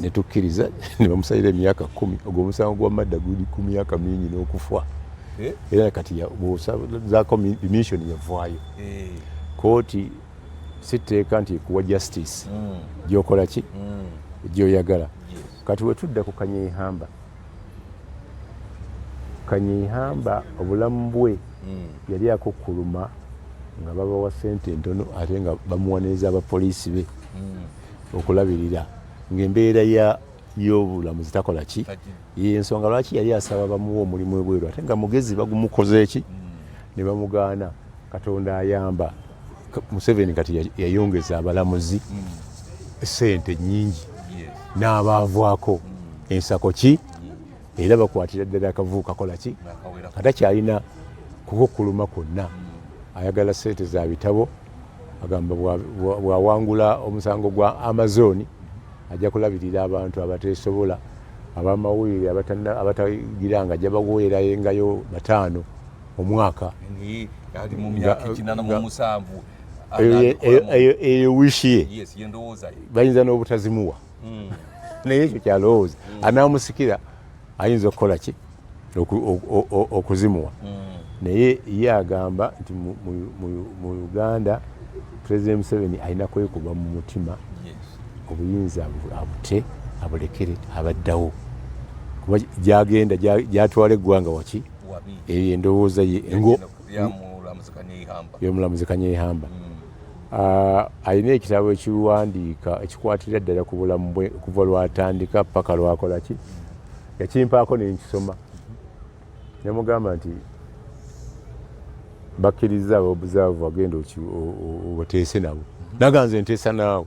netukkiriza nebamusalira emyaka kumi ogwo omusango gwa madda guli ku myaka mingi n'okufa eh? era kati bwosazako mission yavaayo eh. kooti sitteeka nti ekuwa justice mm. gyokola ki mm. gyoyagala kati wetudda ku kanyeihamba kanyeihamba obulamu bwe mm. yali akukkuluma nga babawa sente entono ate nga bamuwaniriza abapoliisi be mm. okulabirira ngaembeera y'obulamu zitakola ki yensonga lwaki yali asaba bamuwa omulimu ebweru ate nga mugezi bagumukoze eki mm. ne bamugaana katonda ayamba museveni kati yayongeza abalamuzi sente nyingi n'abaavaako ensako ki era bakwatira ddala akavubu kakola ki kata kyalina kukukuluma kwonna ayagala sente za bitabo agamba bwawangula omusango gwa amazoni ajja kulabirira abantu abatesobola abamawulire abatagira nga ajja baweerayo engayo bataano omwaka eyo wishi ye bayinza n'obutazimuwa hmm. naye ekyo kyalowooza hmm. anaamusikira ayinza okukola ki okuzimuwa hmm. naye ye agamba nti mu uganda president museveni alina kwekuba mu mutima obuyinza abute abulekere abaddawo kuba gyagenda gyatwala eggwanga waki eyo endowooza ye yomulamuzi kanyeihamba mm. ah, alina ekitabo ekiwandiika ekikwatirira ddala ku bulamu bwe kuva lwatandika paka lwakolaki yakimpaako nenkisoma mm-hmm. nemugamba nti bakkiriza ababuzaavu agenda obateese nabo mm-hmm. naganze nteesa naawe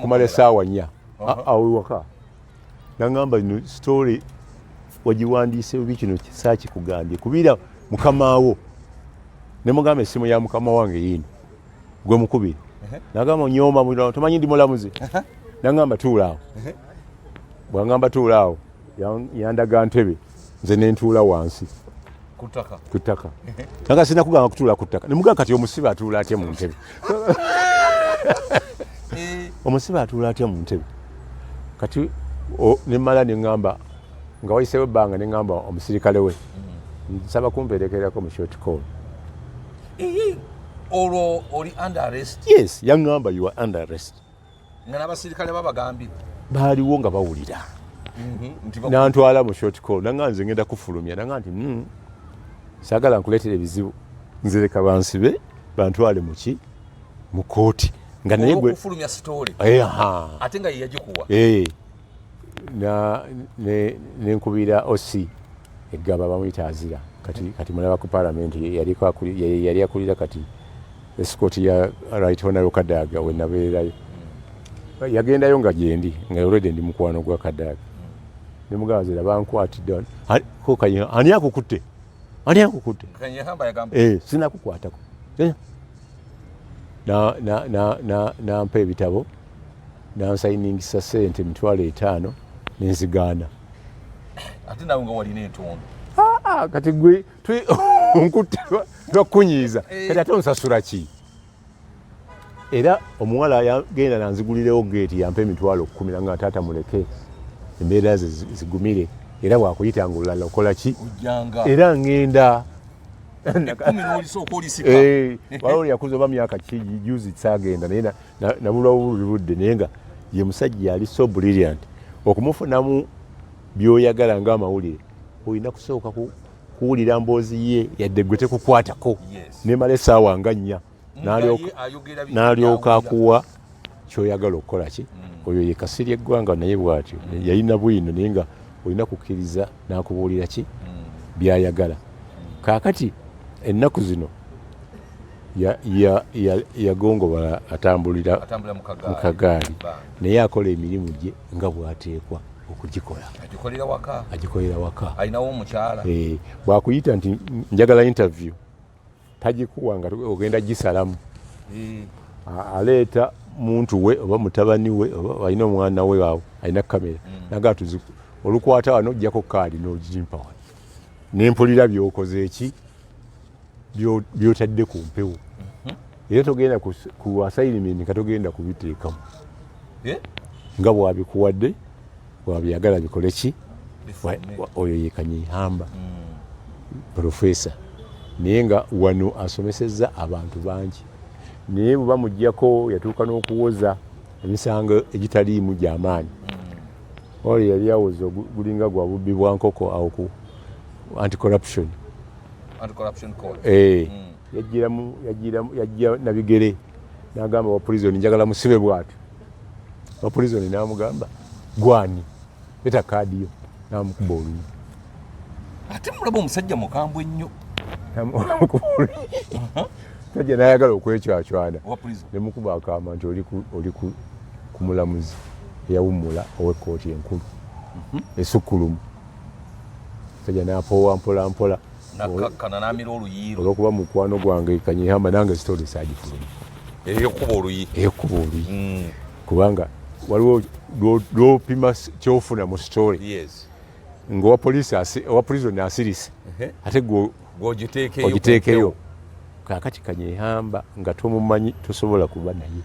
kumala esaawa nnya awewaka uh-huh. ah, ah, nagamba no story wagiwandiise obi kino saakikugambye kubiira mukamaawo ne mugamba essimu ya mukama wange yiino gwe mukubiri uh-huh. nagamba nyooma mulirawo tomanyi ndi mulamuzi uh-huh. nagamba tuulaawo bwangamba tuulaawo yandaga ntebe nze nentuula wansi ku ttaka nanga sirina kugamba kutuula ku ttaka nemugaa kati omusibe atuula atya mu ntebe eh. omusibe atuula atya mu ntebe kati nemala neŋamba nga wayisewo ebbanga neŋamba omusirikale we mm. nsaba kumperekerako mu short call olwo oli under arrest yes yaŋamba you are under arrest nga n'abasirikale babagambye baaliwo nga bawulira mhm, nantwala mu short call nanga nze ngenda kufulumya nanga nti hmm, sagala nkuleetera ebizibu nzireka bansibe bantwale muki mu kooti nga naye gwe ate nga yeyagikuwa eh. nenkubira oc eggaba bamuyita azira kati kati mulaba ku palamenti yali akulira kati esikooti ya right honaro kadaaga wenabeerayo hmm. yagendayo nga gyendi nga olwedde ndi mukwano gwa kadaaga hmm. nemugamba zira bankwatidde kokayina ani akukutte ani akukutte eh, sinakukwatako nampa ebitabo nansayiningisa sente emitwalo etaano nenzigaana ate nawe nga walina entondo ah, ah, kati gwe nkutte lwakunyiiza eh. kati ate onsasula ki era omuwala yagenda nanzigulirewo geeti yampa emitwalo kumi nanga taata muleke embeera ze zigumire era wakuyita nga olulala okola ki era ngenda eh, waliwo yakuza oba myaka ki juzi sagenda naye nabulwa buli budde naye nga ye musajja yali so brilliant okumufunamu byoyagala nga amawulire olina kusooka kuwulira mboozi ye yadde gwe tekukwatako nemala esaawa nga nnya nalyoka akuwa kyoyagala okukola ki mm. oyo ye kasiri eggwanga naye bwatyo mm. yalina bwino naye nga olina kukkiriza nakubuulira ki mm. byayagala kakati ennaku zino ya, ya, ya, yagongobala atambulira mu kagaali naye akola emirimu gye nga bwateekwa okugikola agikolera waka agikolera waka alinawo omukyala eh, bwakuyita nti njagala interview tagikuwa nga ogenda gisalamu eh. aleeta muntu we oba mutabani we oba alina omwana we awo alina kamera mm. naga tuzi olukwata wano ojjako kaali n'ogimpa wano nempulira byokoze eki byotadde ku mpewo mhm. era togenda ku assignment nga togenda kubiteekamu eh? nga bwabikuwadde bwabyagala bikole ki oyo yekanyihamba hmm. profesa naye nga wano asomesezza abantu bangi naye bweba mujjako yatuuka n'okuwoza emisango egitaliimu gyamaanyi hmm. oyo yali awoza gulinga gwa bubbi bwa nkoko awo ku anti corruption eh, hmm. yajja nabigere nagamba wa prison njagala musibe bwati wa prison namugamba gwani leta kaadi yo namukuba olumu ate mulaba omusajja mukambwe nnyo sajja nayagala okwekyacwana nemukuba akama nti oli ku mulamuzi eyawummula owekkooti enkulu mhm. esukkulumu Kaja napowa mpola mpola nakakkana namira oluyiiro olwokuba mukwano gwange kanyihamba nange sitoli sagifuluma eyokuba oluyi eyokuba oluyi mm. kubanga waliwo lwopima kyofuna mu sitoli yes. ngaowa polisi owa prison asirise ate ogiteekeyo kakati kanyehamba nga tomumanyi tosobola kuba naye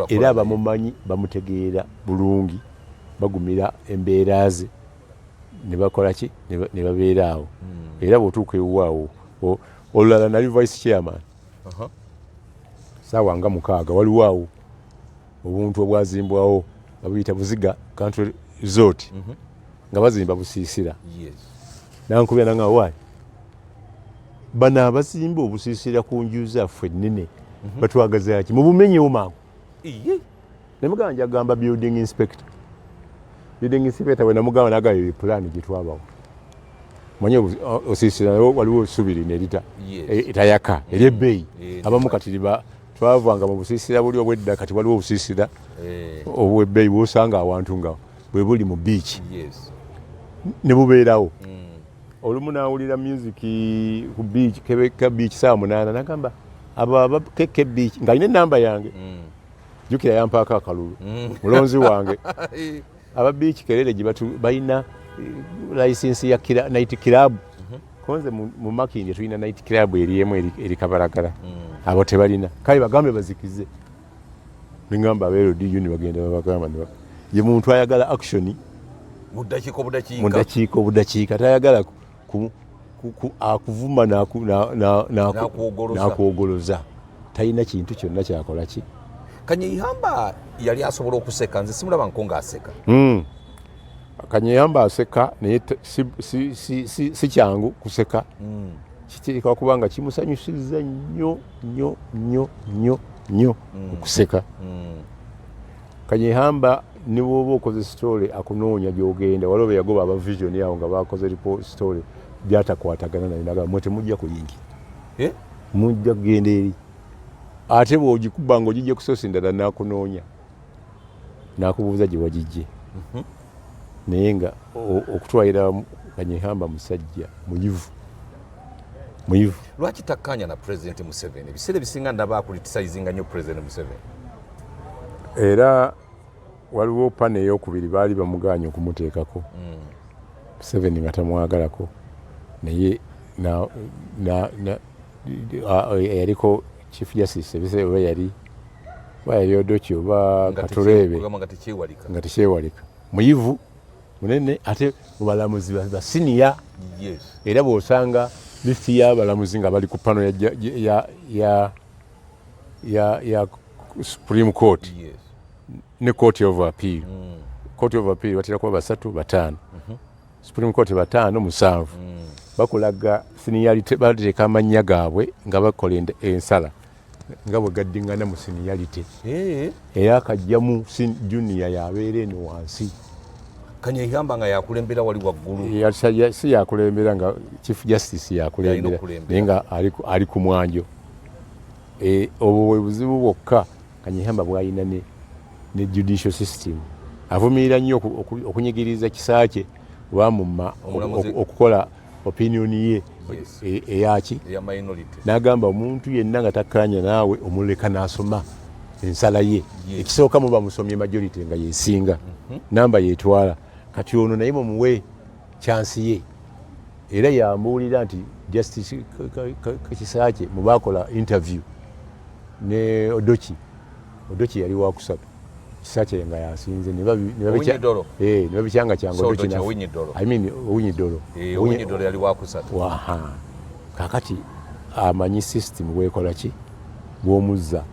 era abamumanyi bamutegeera bulungi bagumira embeera ze ne bakola ki ne babeera awo hmm. era bw'otuuka ewuwo awo olulala nali vice chairman saawa nga mukaaga waliwo awo obuntu obwazimbwawo nga buyita buziga country resort mhm. nga bazimba busiisira nankubira nanga waali bano abazimba obusiisira ku nju zaffe ennene mhm. batwagazaki mubumenyewo mangu iye nemugamba njagamba building inspector building inspector bwe namugamba naga yo plan gye twabawo manyi osisira nayo waliwo subiri nerita e, etayaka eri ebbeeyi abamu kati liba twavanga mu busisira buli obwedda kati waliwo obusisira eh. obwebbeeyi bwosanga awantu nga bwe buli mu biiki ne bubeerawo hmm. olumu nawulira music ku biiki kebeka biiki saawa munaana nagamba abo aba kkb nga alina enamba yange mm. jukira yampaako akalulu mm. mulonzi wange aba biiki kerere gye balina eh, layisinsi ya nit club mhm. konze mu makindye tulina nit club eriemu eri kabalagala mm. abo tebalina kale bagambe bazikize ningamba aberodu ni bagenda babagamba ye muntu ayagala action mu ddakiika obudakiika tayagala akuvuma nakwogoloza talina kintu kyonna kyakola ki kanyeyamba yali asobola okuseka nze simulaba nko ngaaseka hmm. kanyeyamba aseka naye si kyangu kuseka hmm. kiteeka kuba nga kimusanyusiza nnyo nnyo nnyo nnyo nnyo hmm. okuseka kanyeyamba ne bwoba okoze story akunoonya gyogenda waliwo beyagoba aba vision awo nga bakoze report story byatakwatagana naye naga mwe temujja kuyingira eh? mujja kugenda eri ate bwogikuba nga ogijje kusosi ndala nakunoonya nakubuuza gye wagijje mhm. naye nga okutwalira kanyehamba musajja muyivu muyivu lwaki takkaanya na president museveni ebiseera ebisinga ndaba akulitisayizinga nnyo president museveni era waliwo pana eyokubiri baali bamugaanye okumuteekako hmm. museveni nga tamwagalako naye yaliko chief justice ebiseera oba yali oba yali odoki oba katureebe nga tekyewalika muyivu munene ate mubalamuzi basiniya era bwosanga listi yabalamuzi nga bali ku pano ya ya, ya Supreme Court yes. ne Court of Appeal mm. Court of Appeal batera kuba basatu bataano mm -hmm. Supreme Court bataano musanvu mm. bakulaga seniority bateeka amannya gaabwe nga bakola ensala nga bwe gaddingana mu seniority hey. era kajjamu junior yabeera eno wansi kanyehamba nga yakulembera wali waggulu si yakulembera nga chief justice yakulembera naye nga ali ku mwanjo E, obwo bwe buzibu bwokka kanyihamba bwalina ne, ne judicial system avumirira nnyo okunyigiriza kisaakye oba muma okukola opinion ye e, eyaki nagamba omuntu yenna nga takkaanya naawe omuleka nasoma ensala ye ekisooka muba musomye majority nga yesinga mhm. namba yetwala kati ono naye mumuwe kyansi ye era yambuulira nti justice kisakye mubaakola interview ne odoki odoki yali wakusatu kisakye nga yasinze nebabikyanga kyangaowinyidolo kakati amanyi system wekolaki bwomuzza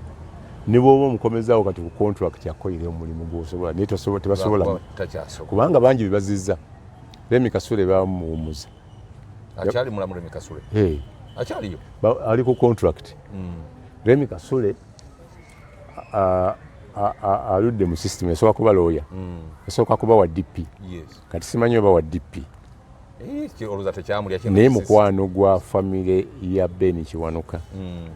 nebwoba omukomezawo kati ku contract akoire omulimu gwosobola naye tebasobola kubanga bangi bebazizza Remi Kasule bamuwumuza. Akyali mulamu Remi Kasule. Hey. Akyaliyo. Ali ku contract. Mm. Remi Kasule aludde mu system esooka kuba looya mm. esooka kuba wa DP. Yes. Kati simanyi oba wa DP. Eh, naye mukwano gwa famire ya Ben Kiwanuka mm.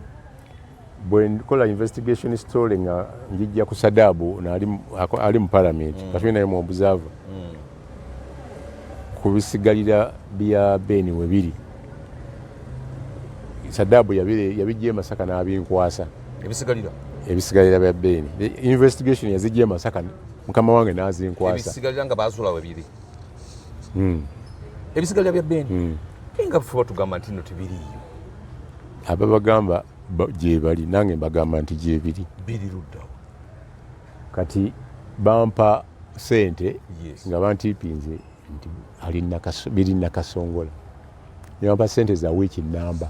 bwe nkola investigation story nga njijja ku sadaabu ali mu palamenti mm. katuli naye mu observer mm. ku bisigalira bya beni we biri sadaabu yabijja e masaka n'abinkwasa ebisigalira ebisigalira bya beni investigation yazijja e masaka mukama wange n'azinkwasa ebisigalira nga baazula we biri hmm. ebisigalira bya beni hmm. nga fuba tugamba nti no tebiriiyo ababagamba gyebali nange mbagamba nti gyebiri biri luddawo kati bampa sente nga bantiipinze nti biri nakasongola nebampa sente za wiiki namba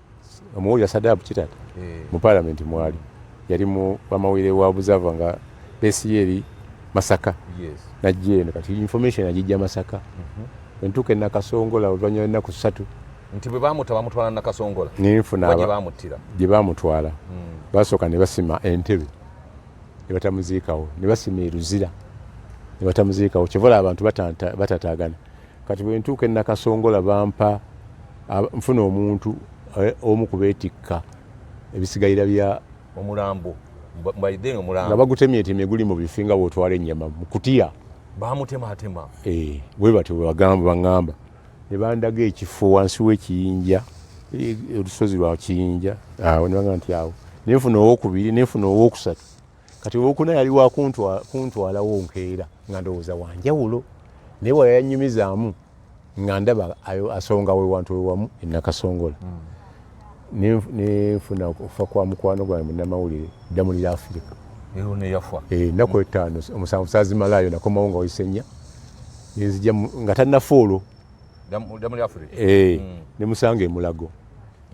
omuwulira sadabu kitata eh. mu palamenti mwali yali mu amawulire wa observer nga besi yeri masaka najja eno kati information agijja masaka mhm. entuuka enakasongola oluvanyuma lwenaku satu nti bwe bamuta bamutwala nakasongola ninfunabamuttira gye bamutwala hmm. basooka ne basima entebe ne batamuziikawo ne basima eruzira ne batamuziikawo kyevola abantu batatagana Kati bwe ntuuka e Nakasongola bampa nfuna omuntu eh, omu ku beetikka ebisigalira bya omulambo nga bagutemyetemye guli mu bifi nga bwotwala ennyama mu kutiya bamutematema eh, bwe batyo bwe bagamba baŋŋamba ne bandaga ekifo wansi w'ekiyinja eh, olusozi lwa kiyinja awo ne bagamba nti awo nenfuna owokubiri nenfuna owokusatu kati owokuna yali wakuntwalawo nkeera nga ndowooza wanjawulo naye wala yanyumizaamu nga ndaba asonga wewantu wewamu enakasongola hmm. nenfuna okufa kwa mukwano gwange munamawulire ddamulira afirika eh, naku hmm. etaano omusanvu sazimalayo nakomawo nga waisenya nenzija nga tanafa olwo eh, hmm. nemusanga emulago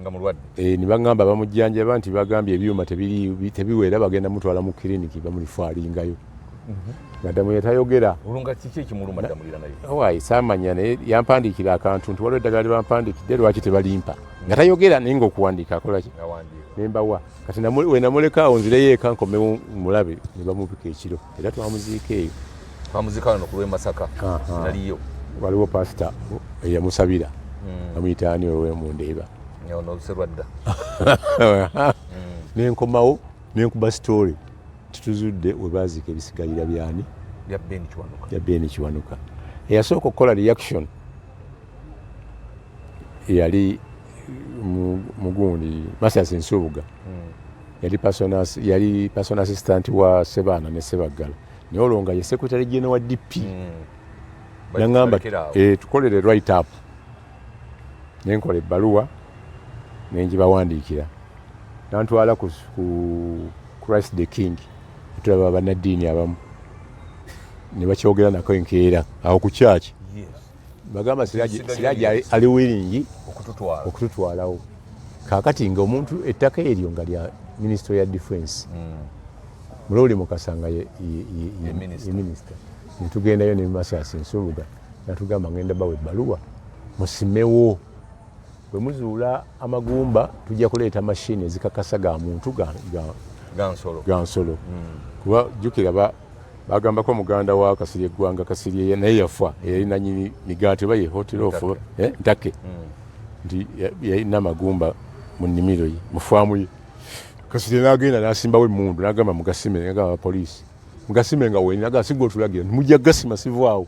nga mulwadde e, eh, nebagamba bamujjanjaba nti bagambye ebyuma tebiwera bagenda mutwala mu kiriniki bamulifwalingayo mhm. madamu yetayogera olunga kiki ekimuluma damulira naye wayi samanya naye yampandiikira akantu nti waliwo eddagala lyebampandikidde lwaki tebalimpa mhm. nga tayogera naye ngaokuwandiika akolaki nembawa kati wenamulekaawo nzireyo eka nkomewo mulabe nebamubika ekiro era twamuziika eyo twamuziika wano ku lw'e masaka naliyo waliwo pasita eyamusabira hmm. amuyita ani wewe mu ndeeba onoserwadda nenkomawo nenkuba sitoole tituzudde webaziika ebisigalira byani bya beni kiwanuka eyasooka okukola reaction yali mugundi masasi nsubuga mm. yali personas yali person assistant wa Sebaana ne Sebaggala naye olwo nga ye secretary general wa DP mm. nangamba eh, tukolere right up ne nkola ebbaluwa ne ngibawandiikira nantwala ku, ku Christ the King tulaba bannaddiini abamu ne bakyogera nako enkeera awo ku kyaki bagamba siraji ali wiringi okututwalawo kakati nga omuntu ettaka eryo nga lya minisito ya defense hmm. mulowuli mukasa nga ye minisita netugendayo nemasasi nsubuga natugamba ngenda bawa ebbaluwa musimewo Bwe muzuula amagumba tujja kuleeta mashini ezikakasa ga muntu ga nsolo hmm. kuba jjukira bagambako muganda wa kasirye eggwanga kasirye naye yafa eyali nanyini migaati oba ye hotero ofu eh, ntake hmm. nti yalina amagumba mu nnimiro ye mu faamu ye kasirye n'agenda n'asimbawo emmundu n'agamba mugasime agamba abapoliisi mugasime nga wenagasiga otulagira nti mujja gasima sivaawo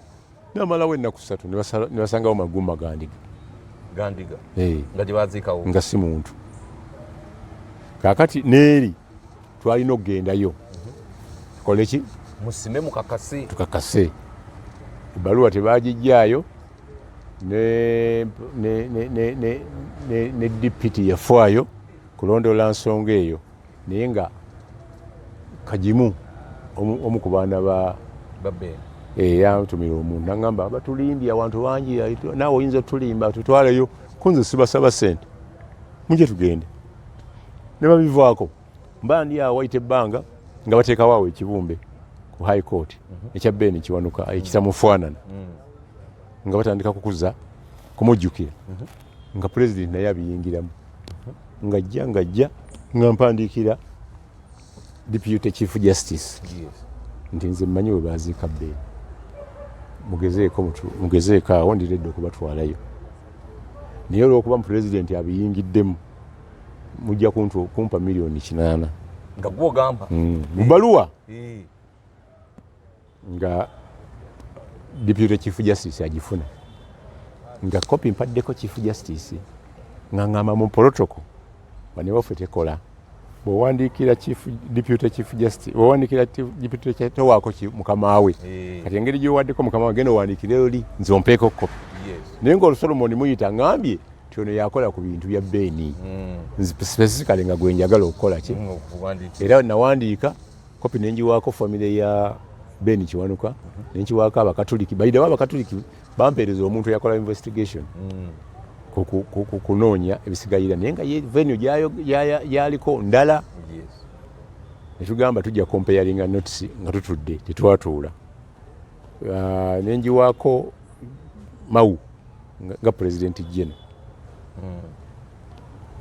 namalawo ennaku ssatu ne basangawo magumba gandiga gandiga eh. nga gye baziikawo nga si muntu kaakati neeri twalina okugendayo mhm. tukole ki musime mukakase tukakase ebbaluwa tebagijjaayo ne dipiti yafaayo kulondoola nsonga eyo naye nga kagimu omu ku baana ba eh, yantumira omuntu nagamba batulimbye awantu bangi naawe oyinza otulimba tutwaleyo kunze sibasaba sente muje tugende ne babivaako mba ndi awo wayita ebbanga nga bateekawo awo ekibumbe ku high court mhm. ekya beeni kiwanuka ekitamufaanana mm. nga batandika kukuza kumujjukira mhm. nga pulezidenti naye abiyingiramu ngajja ngajja nga mpandiikira deputy chief justice nti nze mmanyi we baaziika bbeeni mugezeeko mugezeeko awo ndiredde okubatwalayo naye olwokuba mu pulezidenti abiyingiddemu mujja kumpa miliyoni kinaana nga gwogamba hmm. mu baluwa eh. nga deputy chief justice agifuna nga kopi mpaddeko chief justice nga ngamba mu protocol banewaffe tekola bwewandiikira deputy chief justice bwewandiikira deputy towaako mukama we eh. kati engeri gyowaddeko mukama we genda owandiikire oli nze ompeeko kopi naye ngaolu solomoni muyita ngambye nti ono yakola ku bintu bya beeni hmm. specifically nga gwenjagala okukola ki hmm, era nawandiika kopi nenjiwaako famire ya ben kiwanuka nenkiwaako abakatuliki baidawo abakatuliki bampeereza omuntu eyakola investigation mm. kunoonya ebisigalira naye nga venue yaliko ndala netugamba tujja comparinga notes nga tutudde tetwatuula ah, nenjiwaako mawu nga president jeno mm.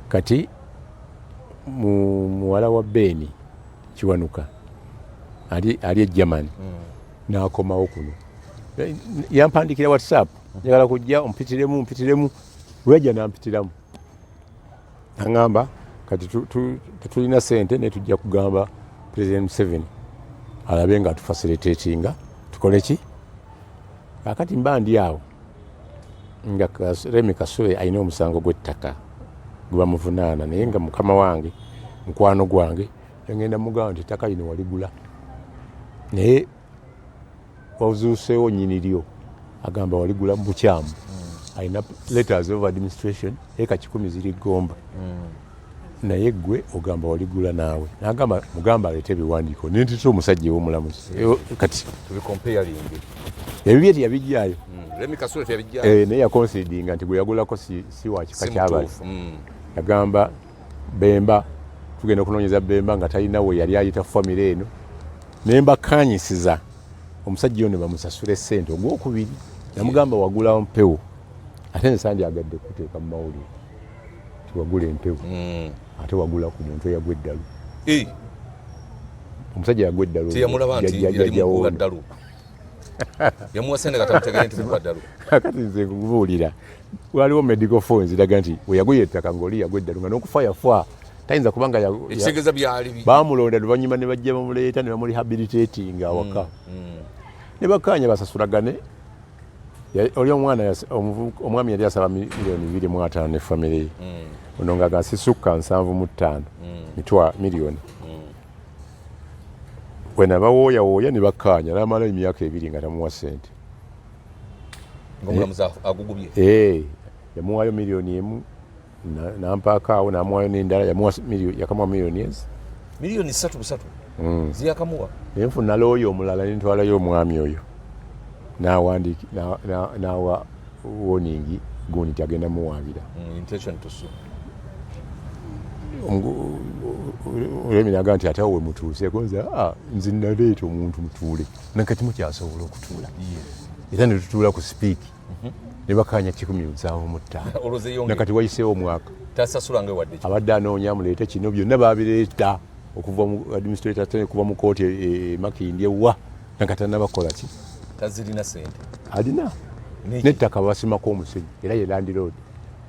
Kati mu muwala wa Ben Kiwanuka ali ali e German mm. nakomawo kuno yampandikira WhatsApp mm. njagala kujja ompitiremu mpitiremu weyajja nampitiramu angamba kati tetulina sente naye tujja kugamba president Museveni alabe nga tufasilitatinga tukole ki akati mba ndi awo nga Remi Kasule alina omusango gw'ettaka gwe bamuvunaana naye nga mukama wange mukwano gwange engenda mugamba nti ettaka lino waligula naye wazuuseewo nyini lyo agamba waligula mu bukyamu hmm. alina letters of administration eka kikumi ziri gomba hmm. naye gwe ogamba waligula naawe nagamba mugamba alete ebiwandiiko nentita omusajja ewomulamuzi eh, kati ebibye teyabijjayo hmm, eh, naye yakonsidinga nti gweyagulako si wakika kyabali hmm. yagamba bemba tugenda okunonyeza bemba nga talina we yali ayita famire eno naye mbakanyisiza omusajja ono bamusasula esente ogwokubiri namugamba wagulawo mpewo ate nsandi agadde kuteeka mu mawulire tiwagula empewo mm. ate wagula ku muntu eyagwa eddalu eh. omusajja yagwa eddalu teyamulaba nti yali mukuba ddalu kati nze kubuulira waliwo medical fo nziraga nti weyaguye ettaka ngaoli yagwa eddalu nga nokufa yafa tayinza kubanga bamulonda luvanyuma ne bajja bamuleeta ne bamurehabilitatinga awaka mm, mm. ne bakaanya basasulagane oli omwana omwami yali asaba miliyoni biri mu ataano ne famire ye mm. ono nga gasisukka nsanvu mu ttaano mm. mitwa miliyoni mm. wena bawooyawooya ne bakkaanya namala emyaka ebiri nga tamuwa sente eh, eh, yamuwaayo miliyoni emu nampaako awo namuwayo nendala yamuwa yakamuwa miliyoni ezi miliyoni satu busatu mm. ziyakamuwa naye nfuna looya omulala nentwalayo omwami oyo nawandiki nawa woningi gundi nti agenda muwabira mm, olwemi naga nti ate awe mutuuseko nze ah, nze naleeta omuntu mutuule nakati mukyasobola okutuula era netutuula ku sipiiki mhm. ne bakaanya kikumi nsanvu mu ttaano nakati wayiseewo omwaka abadde anoonya muleete kino byonna babireeta okuva mu administrator tene kuva mu kooti e, e, e makindye wa nakatana bakola ki tazirina sente alina nettaka basimako omusenyi era ye landiroad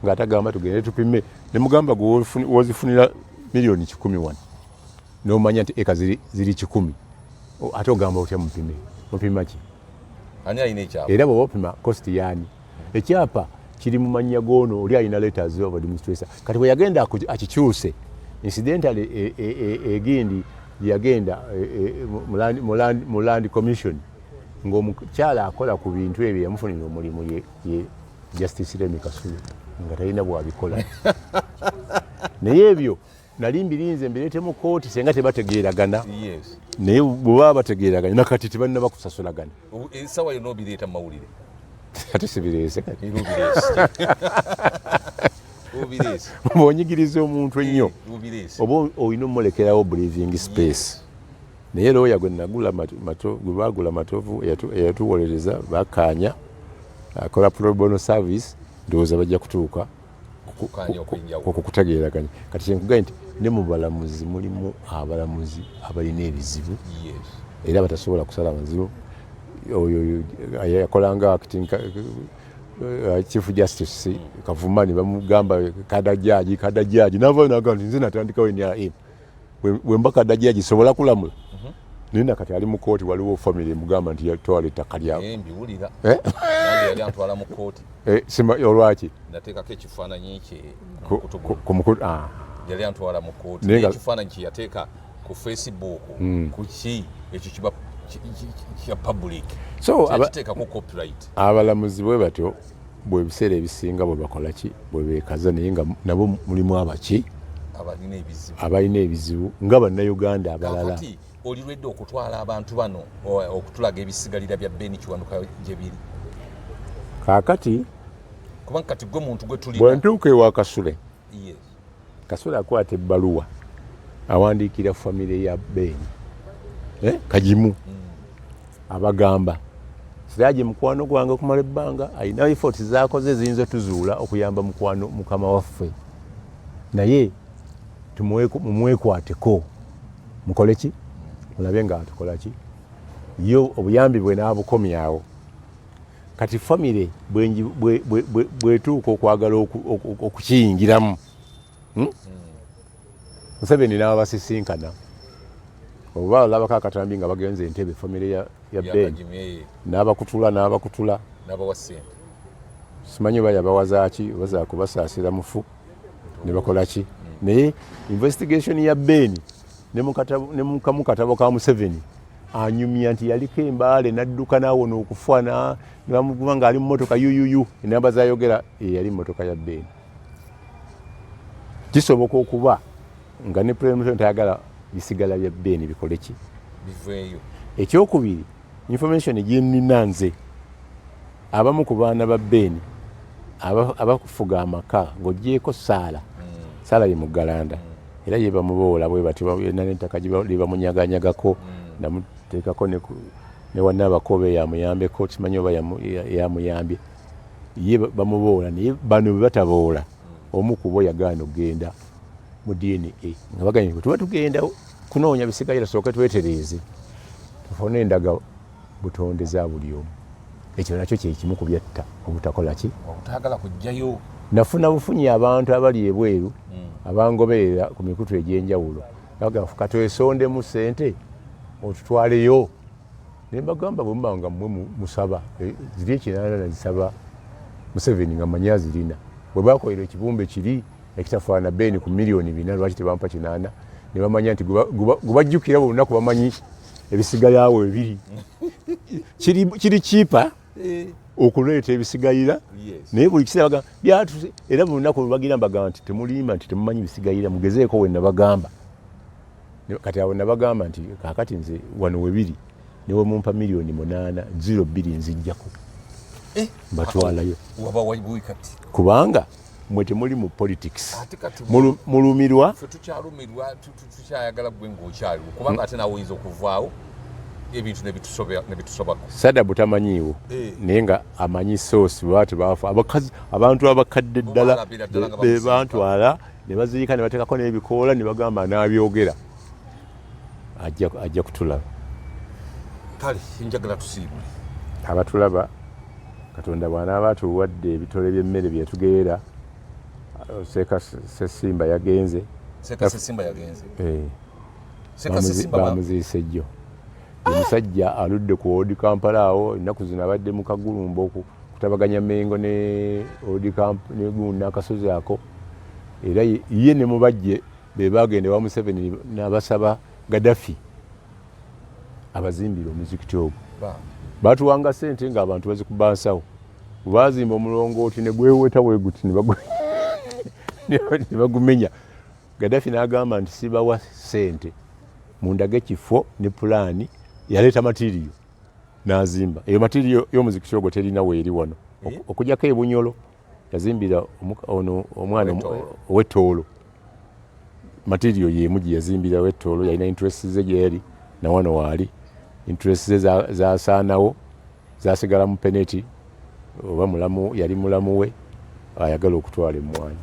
nga atagamba tugende tupime nemugamba gwe wozifunira miliyoni kikumi wano nomanya nti eka ziri kikumi ate ogamba otya mupime mupima ki era bwe bapima cost yaani ekyapa kiri mu mannya g'ono oli alina letters of administration kati bwe yagenda akikyuse incidentally e, e, e, egindi yagenda mu land commission ng'omukyala akola ku bintu ebyo yamufunira omulimu ye justice remi kasulu nga talina bwabikola naye ebyo nali mbirinze mbirete mu kooti senga tebategeeragana naye bwebaba bategeeragana nakati tebalina bakusasulagana esawa yona obireeta mumawulire ate sibireese bwonyigiriza omuntu ennyo oba olina omulekerawo breathing space naye looya gwe nagula gwe baagula matovu eyatuwolereza bakaanya akola probono service ndowooza bajja kutuuka okwo kutageeraganya kati kyenkugaye nti ne mu balamuzi mulimu abalamuzi abalina ebizibu era batasobola kusala maziro oyo yakolanga acting uh, chief justice mm. kavuma ne bamugamba kadajaji kadajaji navayo nagamba nti nze natandikawo nrm wemba kadaji agisobola kulamula mhm. naye nakati ali mu kooti waliwo famiry emugamba nti yatwala ettaka lyambiwulira eh? yali antwala mu kooti eh, olwaki nateekako ekifaananyi kye kumukulu ah. yali antwala mu kooti naye ekifaananyi kye yateeka ku facebook hmm. ku ki ekyo kiba kya public so kiteekako copyright abalamuzi bwe batyo bwe ebiseera ebisinga bwe bakola ki bwe beekaza naye nga nabo mulimu abaki abalina ebizibu nga bannayuganda abalala olirwedde okutwala abantu bano okutulaga ebisigalira bya beni kiwanuka gye biri kaakati kubanga kati gwe muntu gwe tuli bwe ntuuka ewa kasule kasole akwata ebbaluwa awandiikira famire ya beeni eh, kagimu mm. abagamba siraje mukwano gwange okumala ebbanga alina efoti zakoze eziyinza otuzuula okuyamba mukwano mukama waffe naye mumwekwateko mukole ki mulabe nga atukola ki yo obuyambi bwe naabukomyawo kati famire bwetuuka okwagala okukiyingiramu hmm? Hmm. museveni naaba basisinkana oba olabako akatambi nga bagenze entebe famire ya ben n'abakutula n'abakutula simanyi oba yabawazaaki oba zakubasaasira mufu ne bakola ki hmm. naye investigation ya beeni ne mukamu katabo ka museveni anyumya nti yaliko embaale nadduka nawona okufa nebamuguba ngaali mumotoka yuyuyu enamba zayogera eyali mumotoka ya beeni kisoboka okuba nga ne president ayagala bisigala bya beeni bikoleki biveeyo ekyokubiri Information gyenina nze abamu ku baana ba Ben abakufuga amaka ng'ogyeko saala mm. saala ye muggalanda mm. era ye bamuboola bwe batyo yena n'ettaka lyebamunyaganyagako mm. namuteekako ne wanna abakobe yamuyambeko kimanyi oba yamuyambye ye bamuboola naye bano bebataboola omu kubo yagaana okugenda mu dna nga baganye bwe tuba tugenda kunoonya bisigalira sooke twetereeze tufune endaga butonde za buli omu ekyo nakyo kyekimu ku byatta obutakola ki obutagala kujjayo nafuna bufunyi abantu abali ebweru hmm. abangoberera ku mikutu egy'enjawulo baga katwesondemu sente otutwaleyo ne mbagamba bwe muba nga mmwe musaba eh, ziri ekinaana nazisaba museveni nga manyi azirina bwe bakolera ekibumbe kiri ekitafaana beeni ku miliyoni bina lwaki tebampa kinaana ne bamanya nti gubajjukira buli lunaku bamanyi ebisigalawo ebiri kiri kipa eh. okuleeta ebisigalira naye buli kiseera bagamba byatuse era buli lunaku lubagira mbagamba nti temulimba nti temumanyi bisigalira mugezeeko we nabagamba kati awo nabagamba nti kakati nze wano webiri newe mumpa miliyoni munaana ziro bbiri nzijjako eh, mbatwalayo kubanga mwe temuli mu politics mulumirwa tukyalumirwa tukyayagala gwe ngaokyaliwo kubanga ate nawe oyinza okuvaawo ebintu nebitusobako sada butamanyiiwo eh. naye nga amanyi soosi lwati baafa abakazi abantu abakadde ddala bebantwala nebaziika nebatekako nebikoola nebagamba nabyogera ajja kutulaba kale njagala tusiibule abatulaba katonda bwanaaba atuwadde ebitole by'emmere byetugeera seeka sesimba yagenze bamuziise eh. jjo omusajja aludde ku odi kampala awo ennaku zino abadde mu kagulumba okutabaganya mengo ne odi nakasozi ako era ye ne mubajje be baagenda ewa museveni nabasaba gadafi abazimbire omuzikiti ogwo batuwanga sente nga abantu bazikuba nsawo bwebazimba omulongooti negweweta weguti nebagumenya gadafi nagamba nti sibawa sente mundage kifo ne pulaani yaleeta matiriyo nazimba eyo matiriyo yomuzikiti ogwo terina weeri wano eh? okujako ebunyolo yazimbira ono omwana owetoolo matirio yemu gyeyazimbirawo etoolo yalina interest ze gyeyali nawano waali interest ze zasaanawo zasigala mu peneti oba mulamu yali mulamu we ayagala okutwala emmwanyi